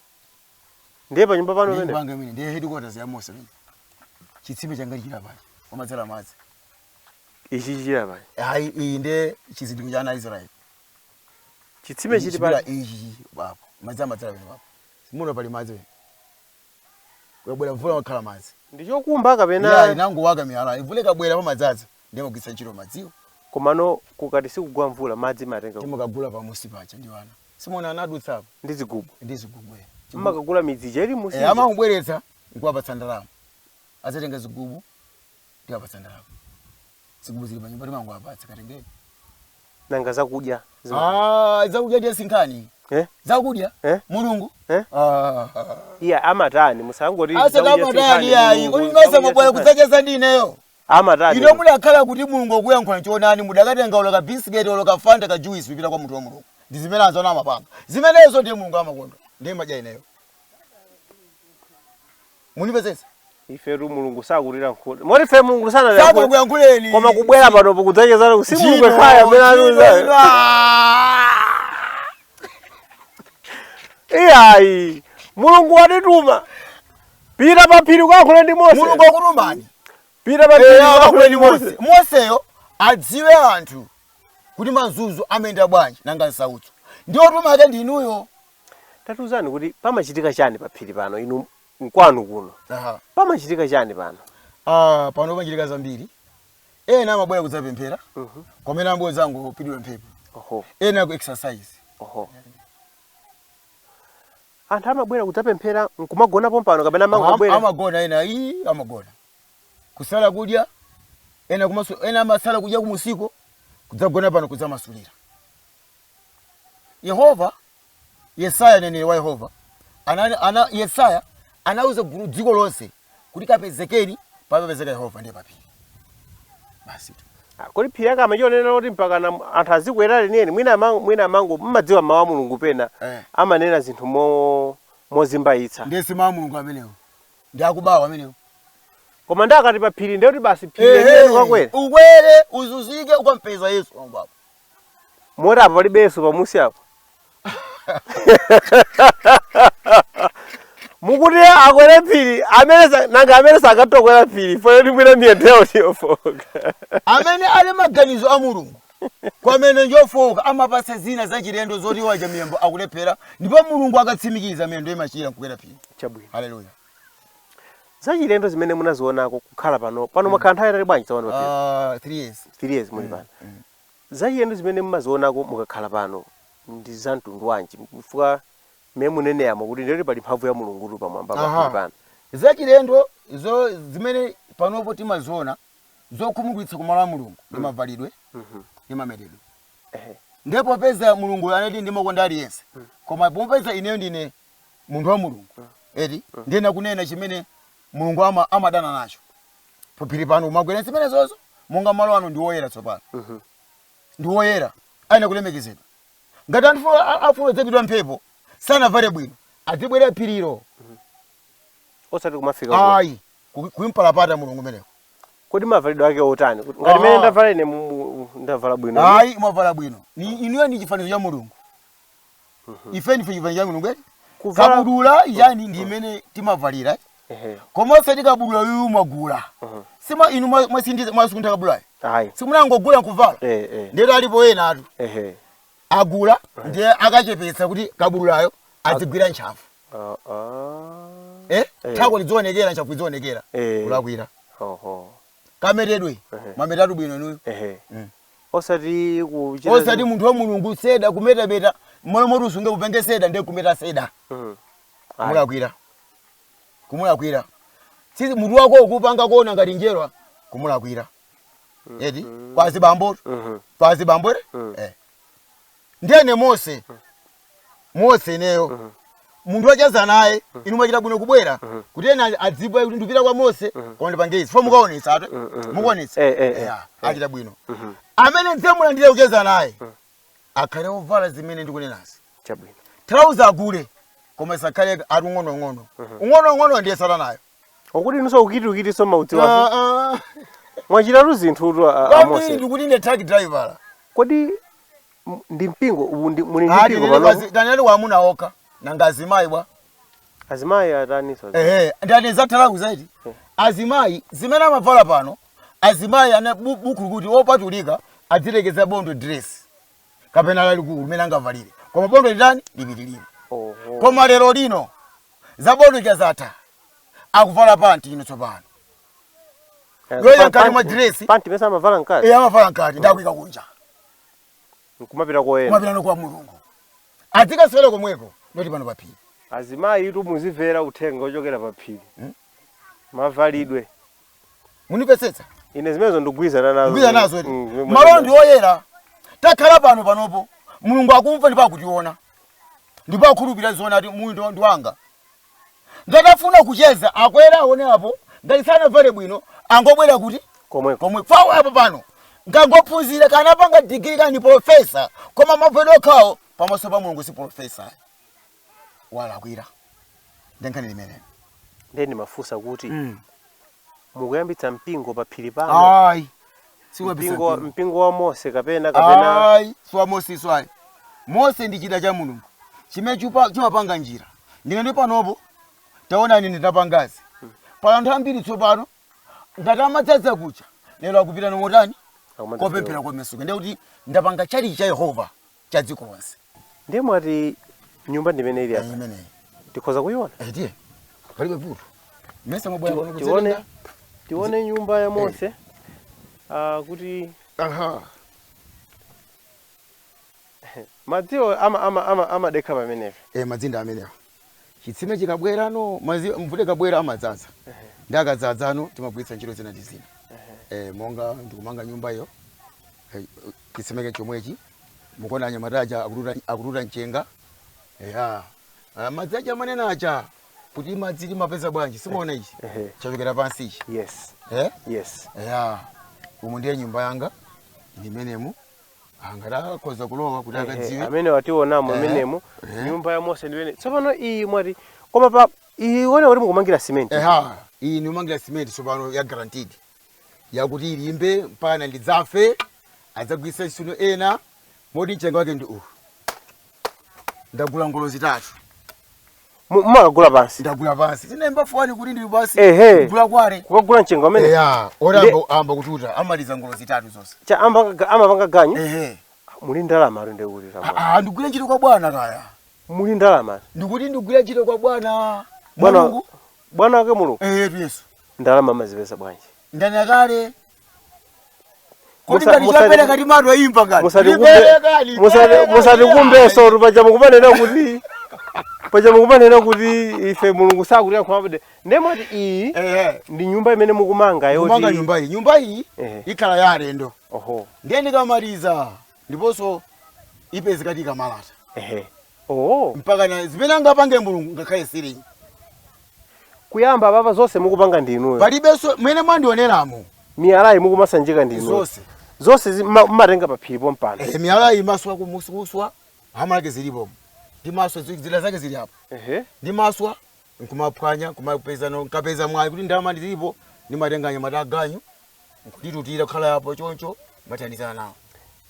ndiye panyumba pano Ndiye pamene nyumba yanga imene ndiye headquarters ya mose imene chitsime changa chili pano pamadzadza madzi ichi chili pano ayi iyi ndiye chizindikiro cha ana a israeli chitsime chili Chili pano ichi papo madzi amadzadza pano papo muno pali madzi pano kubwera mvula umakhala madzi ndichokumba kapena munangowaka miyala mvula ikabwera pamadzadza ndiye amagwiritsa ntchito madziwo komano kukati sikugwa mvula madzi mumatenga kuti? timakagula pamunsi paja ndi ana simunaone anadutsa apa ndi zigubu ndi zigubu eh. Chigubu- mmakagula midzija ili munsi eh, amangobweretsa nkuwapatsa ndalama azatenga zigubu ndiwapatsa ndalama zigubu zili panyumba timangowapatsa katengeni nanga zakudya zima- Ah, zakudya ndiye sinkhani eh? zakudya Eh? mulungu Eh? Ah. iya amatani musangoti zakudya asedamadani sinkhani, ayi mulungu, kuti zakudya mesa mwabwera sinkhani. kudzacheza ndi ineyo amatani inu mudakhala kuti mulungu akuyankhula chonani mudakatenga olo ka bisiketi olo ka fanta ka juice kupita kwa munthu wa mulungu ndi zimene anzanu amapanga zimenezo ndiye mulungu amakondwa ndiye ndimadya ineyo mundipepese ifetu mulungu sakutilankhula moti ife mulungu sanatilankhule sanakuyankhuleni koma kubwera panopo kudzachezana ku si mulungu ekhaya amene anauza iyayi mulungu watituma pita pa phiri ukayankhule ndi mose mulungu wakutumani pita pa phiri ukayankhule ndi mose moseyo adziwe anthu kuti mazunzo amayenda bwanji nanga nsautso ndi wotumidwa wake ndi inuyo tatiuzani kuti pamachitika chani pa phiri pano inu mkwanu kuno Aha. pamachitika chani pano Ah, pano pamachitika zambiri ena amabwera kudzapemphera komano ena amabwera kudzangopitidwa mphepo oho ena ku exercise oho Anthu amabwera kudzapemphera nkumagona pompano kapena Am- amangobwera? amagona ena ii amagona kusala kudya ena kumasu, ena amasala kudya kumunsiko kudzagona pano kudzamasulira yehova yesaya mneneri wa yehova ana, ana, yesaya anauza gulu dziko lonse kuti kapezekeni popezeka yehova ndi paphiri basi tu Ah, kodi phiri yake amachionera kuti mpaka na- anthu azikwera leniyeni mwina ama- mwina amango mmadziwa mawu a mulungu pena Eh. amanena zinthu mo- mozimbayitsa ndiye si mawu a mulungu amenewo ndi akubawa amenewo koma ndikati pa phiri ndiyekuti basi phiri leniyeni kukwera ukwere uzuzike ukampeza yesu wangu wako moti apa palibe yesu pamusi apo mukuti akwere phiri amene sa- nanga amene sakutokwera phiri fo mwina miyendoyo njofoka amene ali maganizo a mulungu koma miyendo njofoka amapanga zina zachilendo zoti wacha miyambo akulephera ndipo mulungu akatsimikiza miyendo imachira nkukwera phiri chabwino haleluya zachilendo zimene munazionako kukhala pano pano mwakhala nthawi yayitali bwanji tsopano pa Uh, three years. three years muli pano zachilendo zimene mumazionako mukakhala pano ndi za mtundu wanji chifukwa mmene muneneramo kuti ndiyeti pali mphamvu ya mulungu tu pamwamba pa- Aha. muli pano zachilendozo zimene panopo timaziona zokhumudwitsa kumalo a mulungu ndi mavalidwe Mhm. ndi mametedwe Ehe. ndipo popeza mulungu anati ndimakonda aliyense koma popeza ineyo ndine munthu wa mulungu eti ndiyenera kunena chimene mulungu ama, amadana nacho paphiri pano kumabwera zimenezozo monga malo ano ndi woyera tsopano ndi woyera ayenera kulemekezedwa ngati anthu a- a- afuna kudzapitidwa mphepo sanavale bwino adzibwera phirilo osati kumafika kuno. ayi ku- kumpalapata mulungu umeneko kodi mavalidwe ake otani Kuti- ngati mene Aha. ndavala ine mu- mu- ndavala bwino ayi mwavala bwino Ni- inuyo ndi chifanizo cha mulungu ife ndife chifanizo cha mulungu eti Kuvala- kabudula yake ndi imene timavalira Ehe. koma osati kabudula uyu mwagula sima inu mwa- mwasindiza mwasuntha kabudula Ayi. simunangogula nkuvala Eh, eh. ndiyeti alipo ena atu Ehe. agula ndiye akachepetsa kuti kabudulayo azigwira ntchafu Ah, ah. eh? Eh. thako lidzionekera ntchafu idzionekera Eh. kulakwira Oho. kametedwe Ehe. mumametatu bwino inuyo Ehe. Mm. osati kuchita osati munthu wa mulungu seda kumetameta moyo moti usunge upenge seda ndiye kumeta seda Mhm. Ayi. kumulakwira kumulakwira Tsitsi- mutu wako ukupanga kuona ngati njerwa kumulakwira eti kwazi bambo Mhm. kwazi bambo ere Mhm. eh. ndiyene mose mose ineyo munthu wacheza naye inu mwachita bwino kubwera kuti ena adziwe kuti ndipita kwa mose koma ndipange izi fo mukaonetsa eti mukaonetsa Eh, eh, eh. Yeah, achita bwino amene ndidzimulandira kucheza naye akhale ovala zimene ndikunenazi chabwino thalauza agule koma isakhale ali ung'onoung'ono ung'onoung'ono ndiye satanayo okuti nuso ukitiukitiso maudziwa Ah, ah. mwachitatu zinthu tu a- a Kwambiri Mose ndikuti ine truck driver. kodi m- ndi mpingo uwu ndi- muli ndi Ati mpingo nene panopo kwazi- tanena amuna okha nanga azimayi bwa? Azimayi ataninso Ehe, ndanena za thalauza eti. Azimayi zimene amavala pano, azimayi ana bu- buku kuti opatulika azilekeza bondo dress. kapena lalikulu limene angavalire koma bondo litani lipitirire Oho. koma lero lino za bondo lija zatha akuvala panti ino tsopano Eh, yoyo pa- mkati mwa panti- dress. Panti mesa amavala mkati. Eya amavala mkati ndiye akuika kunja Nkumapita koyenda. kumapitano kwa mulungu azikasewera komweko not pano paphiri Azimayi tu muzimvera uthenga ochokera pa phiri. Mavalidwe. mumvetsetsa ine zimenezo ndikugwirizana nazo ngwiza nazo eti Mm, zimene- malo ndi oyera takhala pano panopo mulungu akumva ndipo akutiona ndipo akhulupirira zoona ati munthu ndi wanga ngati afuna kucheza akwera aone apo ngati sanavale bwino angobwera kuti komweko komwe fawo apo pano ngakhale waphunzira kaya apanga digiri kaya ndi profesa koma mavalidwe okhawo pamaso pa mulungu si profesa walakwira ndi nkhani imeneyo ndiye ndimafunsa kuti mm. mukuyambitsa mpingo pa phiri pano ayi sikuyambitsa mpingo, wa- mpingo. mpingo wa mose kapena kapena ayi siwa mose si wa Mose ndi chida cha mulungu chimene chupa- chimapanga njira ndine ndi panopo taonani nditapanga izi pali anthu ambiri tsopano ngati amadzadza kuchalichi lero akupita motani Akumadzadza kopemphera komasuka ndiye kuti ndapanga chalichi cha yehova cha dziko lonse ndiye mwati nyumba ndimene ili apa imeneyi tikhoza kuyiona Eh, tiye palibe vuto mesa mwabwera kuno tione kudzatenga tione nyumba ya mose ah, kuti aha madziwo ama ama ama amadekha pamenepo eh madziwo ndi amenewo chitsime chikabwera no madzi mvula ikabwera amadzadza ndiye akadzadza no timagwiritsa ntchito zina ndi zina eh, monga ndikumanga nyumba iyo eh, chitsime chake chomwechi mukuona anyamata aja akututa akututa mchenga eya Ah, madzi aja mumanena aja kuti madzi timapeza bwanji simuona ichi Ehe. chikuchokera pansi ichi yes eh? yes eya umu ndiye nyumba yanga ndi m'menemu Ah, angathe akhoza kulowa kuti Eh, eh, akadziwe amene akutionawo Eh, mmenemo eh. nyumba ya mose ndi imeneyi tsopano iyi mwati koma pa iyi ione kuti mukumangira simenti eha iyi ndikumangira simenti tsopano ya guaranteed yakuti ilimbe mpaka ndidzafe adzagwiritsa ntchito ena moti mchenga wake ndi uwu ndagula ngolo zitatu Mu- mumakagula pansi ndagula pansi tinaimba foni kuti ndili pansi Ehe. kugula kwake kukagula mchenga umene eya ora Nde- amba- amba kututa amaliza ngolo zitatu zonse cha amapanga amapanga ganyu ehe muli ndalama ati ndikuti Ah, kama ah, ndigwire ntchito kwa bwana kaya muli ndalama ndikuti ndigwire ntchito kwa bwana bwana Mulungu. bwana wake mulungu eyetu yesu ndalama amazipeza bwanji ndinanena kale Kodi Musa- ngati musati- chapereka timato imba ngati. Ndipereka, ndipereka, musatikumbenso tu paja mukumanena kuti paja mukumanena kuti ife mulungu sakuti akhumabade ndimati iyi Eh, ndi nyumba imene mukumanga kumanga yoti nyumba iyi. Nyumba iyi Ehe. ikhala ya alendo. oho Ndiye ndikamaliza ndiponso ipezekatu ikamalata ehe oh mpaka na zimene angapange mulungu ngakhale silingi kuyamba papa zonse mukupanga ndi inuyo palibenso mmene mwandioneramo miyalayi mukumasanjika ndi inuyo zonse zonse zi- mma- mmatenga paphiri pompano Eh, miyalayi mmaswa kumaswa hamala zake zilipo ndimaswa zi- zida zake zili apo ehe ndimaswa nkumaphwanya nkumapeza no- nkapeza mwayi kuti ndalama ndili nayo ndimatenga anyamata aganyu nkunditutira kukhala apo choncho mmathandizana nawo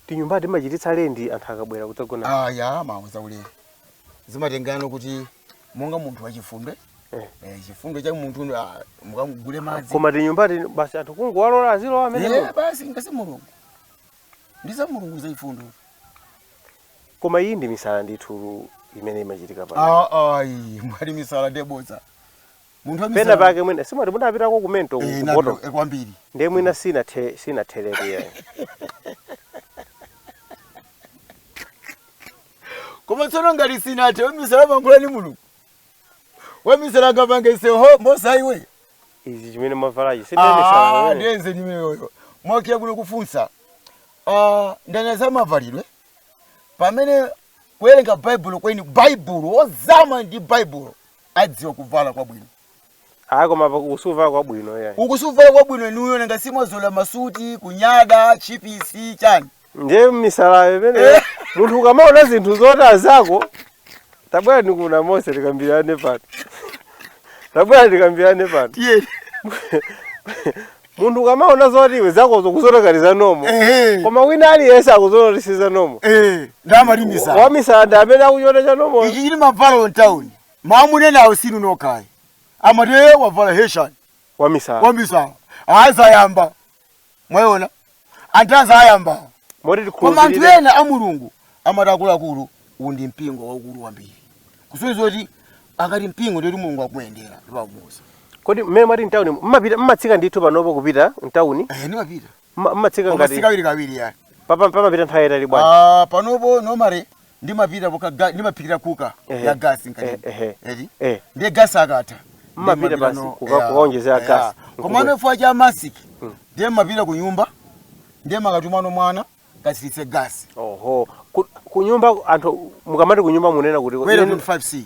tinyumba mmachititsa lendi anthu akabwera kudzagona ayi nza ulere zimatengana kuti monga munthu wachifundo Eh. eh, chifundo cha munthu ndo, ah, mukamagule madzi koma tinyumba tino basi anthu kungowalola azilowa amene Eh, basi ndi za mulungu ndi za mulungu zachifundo koma iyi ndi misala ndithu imene imachitika pano Ah, ayi mwati misala ndiye bodza munthu wa misala- penapake mwina tizimati mudapitako kumento Eh, ndinapita- kupoto eh, kwambiri ndiye mwina sinathe- sinatheretu yayi koma tsono ngati sinathe misala mmayankhula ndi mulungu wamisala angapange izi bodza iwe izi chimene mwavalachi si ndiye misala Ah, imeneyo. ndiye nzeru imeneyoyo mwafika kuno kufunsa Ah, ndinu za mavalidwe pamene kuwerenga baibulo kweni baibulo ozama ndi baibulo adziwa kuvala kwabwino ayi koma pa- usuva kwabwino ya ukusuvala kwabwino inuyo nanga simwazolowera masuti kunyada chipisi chani ndiye misalayo imeneyo munthu ukamaona zinthu zoti azako tabwera kuno Mose tikambirane pano tabwera tikambirane pano tiye munthu ukamaona zoti iwe zakozo ukuziona kuti zili nomo ehe koma wina aliyense akuziona kuti sizili nomo eh ndamalimbisa wamisala ndi amene akuchiona cha nomo ichi chili mavala town Mwawamunenawo siinu nokha ayi. Amati ee wavala T-shirt. Wamisala. Wamisala. Ayi zayamba. Mwayiona? Amati zayamba awa. Moti tikhulupirire. Koma anthu ena a Mulungu amati akuluakulu uwu ndi mpingo waukulu kwambiri. Kusonyeza kuti akati mpingo ndiye kuti Mulungu akumuyendera ndipo akumuuza. Kodi mmene mwati mtauni mmapita mmatsika ndithu panopo kupita mtauni? Eh ndimapita. Ma- matsika koma ngati sikawirikawiri ya pa pamapita nthawi yayitali bwanji Ah, panopo nomare ndimapita poka ga- ndimaphikira kuka Ehe. ya gasi nkati Eh, ehe. eti Eh. ndiye gasi akatha Mmapita ndimapita basi no- kuka- ya, kukaonjezera ya. gasi. koma anofuwa cha masiki ndiye mmapita ku nyumba ndiye mmakatumano mwana katsiritse gasi oho Ku- kunyumba anthu mukamati kunyumba munena kuti kwera ine- 25c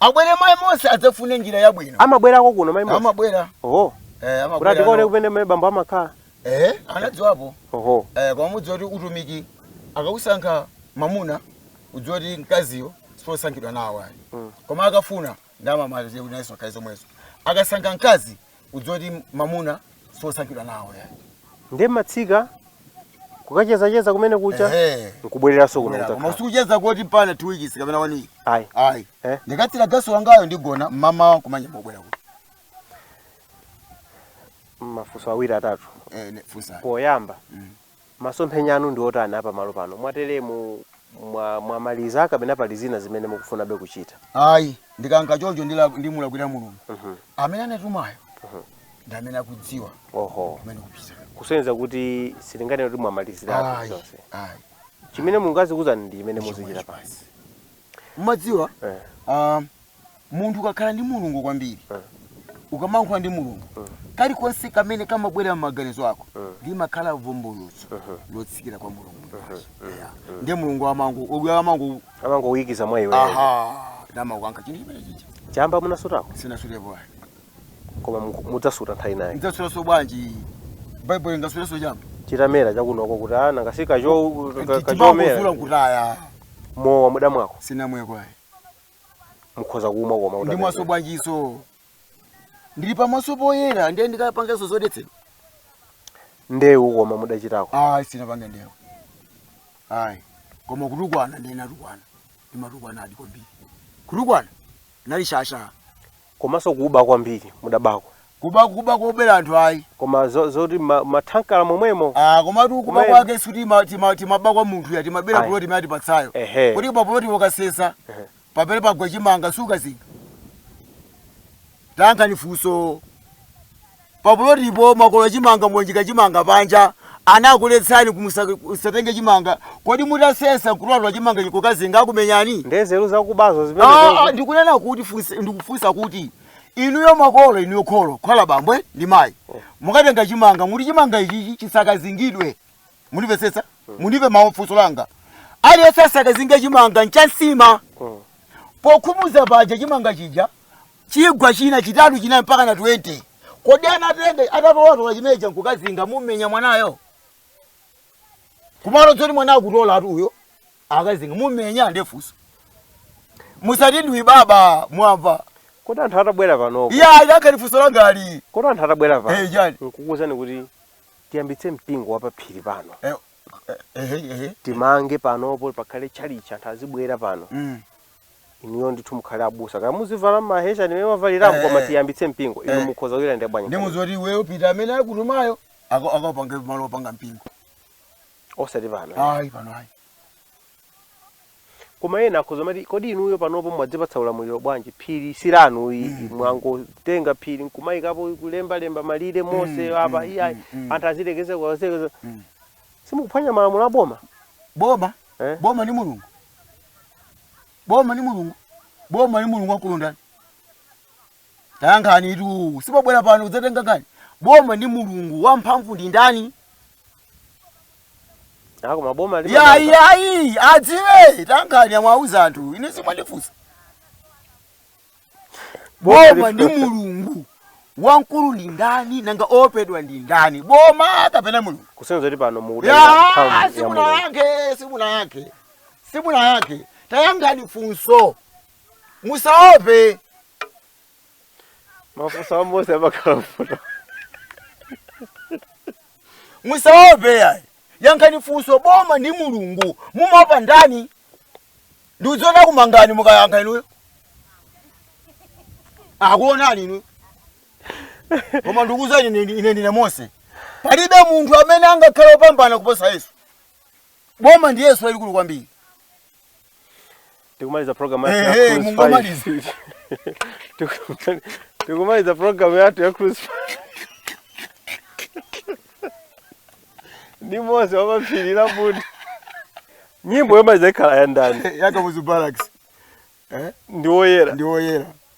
abwere mai Mose adzafune njira yabwino amabwerako kuno mai Mose amabwera oho eh, kuti tikaone kumene mai bambo amakhala eh, anadziwapo oho eh, koma mudziwa kuti utumiki akausankha mamuna udziwa kuti mkaziyo sposankhidwa nawo ayi mm. koma akafuna ndamamaze kuti nayeso akhale zomwezo akasankha mkazi udziwe kuti mamuna sosankhidwa nawo ya nde matsika kukachezacheza kumene kucha Ehe. nkubwereranso kuno koma kutakhala usikucheza koti pana two weeks kapena one week ayi ayi Eh. ndikatsira gasi wangayo ndigona mmamawa kumanya mbobwera kuti mafunso awiri atatu eh, ne- funsa poyamba Masomphenya anu ndi otani a pamalo pano? Mwateremu, mwa mwamaliza kapena pali zina zimene mukufunabe kuchita? Ayi, ndikanka choncho ndila ndimulakwira Mulungu. Amene anatumayo ndi amene akudziwa Oho. kumene ndikupita. Kusonyeza kuti sitinganene kuti mwamaliziratu Ayi, zonse. ayi. Chimene Mulungu azikuuzani ndi chimene muzichita basi. Mumadziwa Eh. ah, munthu ukakhala ndi mulungu kwambiri ukamayankhula ndi mulungu kalikonse kamene kamabwera m'maganizo ako limakhala vumbulutso lotsikira kwa mulungu Yeah. ndiye mulungu amangobwera amango amangoikiza mwa iwe aha namakukankha chinthu chimene chicha chamba munasutako sinasutepo ayi koma mu- mudzasuta nthawi ina ayi ndidzasutaso bwanji baibulo ndingasutaso chamba chitamera chakunoko kuti ana angasike cho ka- ka- chomera timangozula nkutaya mowa mudamwako sinamweko ayi mukhoza kumwa koma ndimwaso bwanjiso ndili pamaso poyera ndiye ndikapangeso zodetsedwa ndewu koma mudachitako ayi sinapange ndewu ayi koma kutukwana ndiye natukwana ndimatukwanadi kwambiri kutukwana nali shasha komanso kuba kwambiri mudabako kuba kuba kowabera anthu ayi koma zo- zoti ma- mathankala momwemo Ah, komatu kuba Kumene. kwake sikuti ma- tima- timaba kwa munthu ya timabera Ayi. puloti imene atipatsayo Ehe. kuti pa puloti okasesa Ehe. pamene pagwa chimanga sukazinga tankhani funso papulotipo mwakolola chimanga mwanjika chimanga panja anakuletsani kuti musatenge chimanga kodi mutasesa nkutolatula chimanga nkukazinga akumenyani ndezeru zakubazo Ah, zimene ndikunena kuti funse- ndikufunsa kuti inuyo makolo inuyo kholo kaya bambo ndi mayi mukatenga chimanga muti chimanga ichichi chisakazingidwe mundipesesa mundimve funso langa aliyense asakazinge chimanga nchansima pokhumuza panja chimanga chija chigwa china chitatu chinayi mpaka na 20 kodi anatenga atatolatola chimeja nkukazinga mumenya mwanayo kumalo tsoti mwana akutola ati uyo akazinga mumenya ndefunso musati ndiwi baba mwamva kodi anthu atabwera panopo yankhani funso langali kodi anthu atabwera pano Eh, chani? nkukuuzani kuti tiyambitse mpingo wapaphiri pano Eh, ehe ehe timange panopo pakhale tchalitchi anthu azibwera pano mm inuyo ndithu mukhale abusa kaya muzivala mahesheni mmene mavaliramo Eh, koma eh. tiyambitse mpingo inu Eh. mukhoza kuilandira bwanji ndimuuza kuti iweyo pita amene akutumayo ako- akapange malo opanga mpingo osati pano ayi pano ayi Koma ena akhoza kumati kodi inuyo panopo mwadzipatsa ulamuliro bwanji phiri si lanu ayi mm. mwangotenga phiri nkumayikapo kulemba lemba malire mm, Mose mm. apa mm. iya mm. mm. anthu azilekeza uku azilekeza mm. simukuphwanya malamulo a boma boma eh? boma ndi mulungu boma ndi mulungu boma ndi mulungu wamkulu ndani tayankhanitu si mwabwera pano kudzatenga nkhani boma ndi mulungu wamphamvu ndi ndani A koma boma ndi yayi mabanga. yayi adziwe tayankhani amwauza anthu ine simwandifunsa Boma boma ndi mulungu wamkulu ndi ndani nanga oopedwa ndi ndani boma kapena mulungu Kusonyeza kuti pano mukudalira Ya, mphamvu ya Mulungu. simunayankhe simunayankhe simunayankhe tayankhani funso musaope mafunso a mose amakhala ovuta musaope yayi yankhani funso boma ndi mulungu mumaopa ndani ndikuziona akumangani mukayankha inuyo akuonani inuyo koma ndikuuzani ine ndi- ine ndine mose palibe munthu amene angakhale opambana kuposa yesu boma ndi yesu lalikulu kwambiri tikumaliza program yathu ya Ehe, Cruise mungomaliza. 5. Tikumali- tikumaliza program yathu ya Cruise 5. ndi mose wapaphiri la bunda nyimbo yomaliza ikhala ya ndani ya kamuzu barracks ndi woyera ndi woyera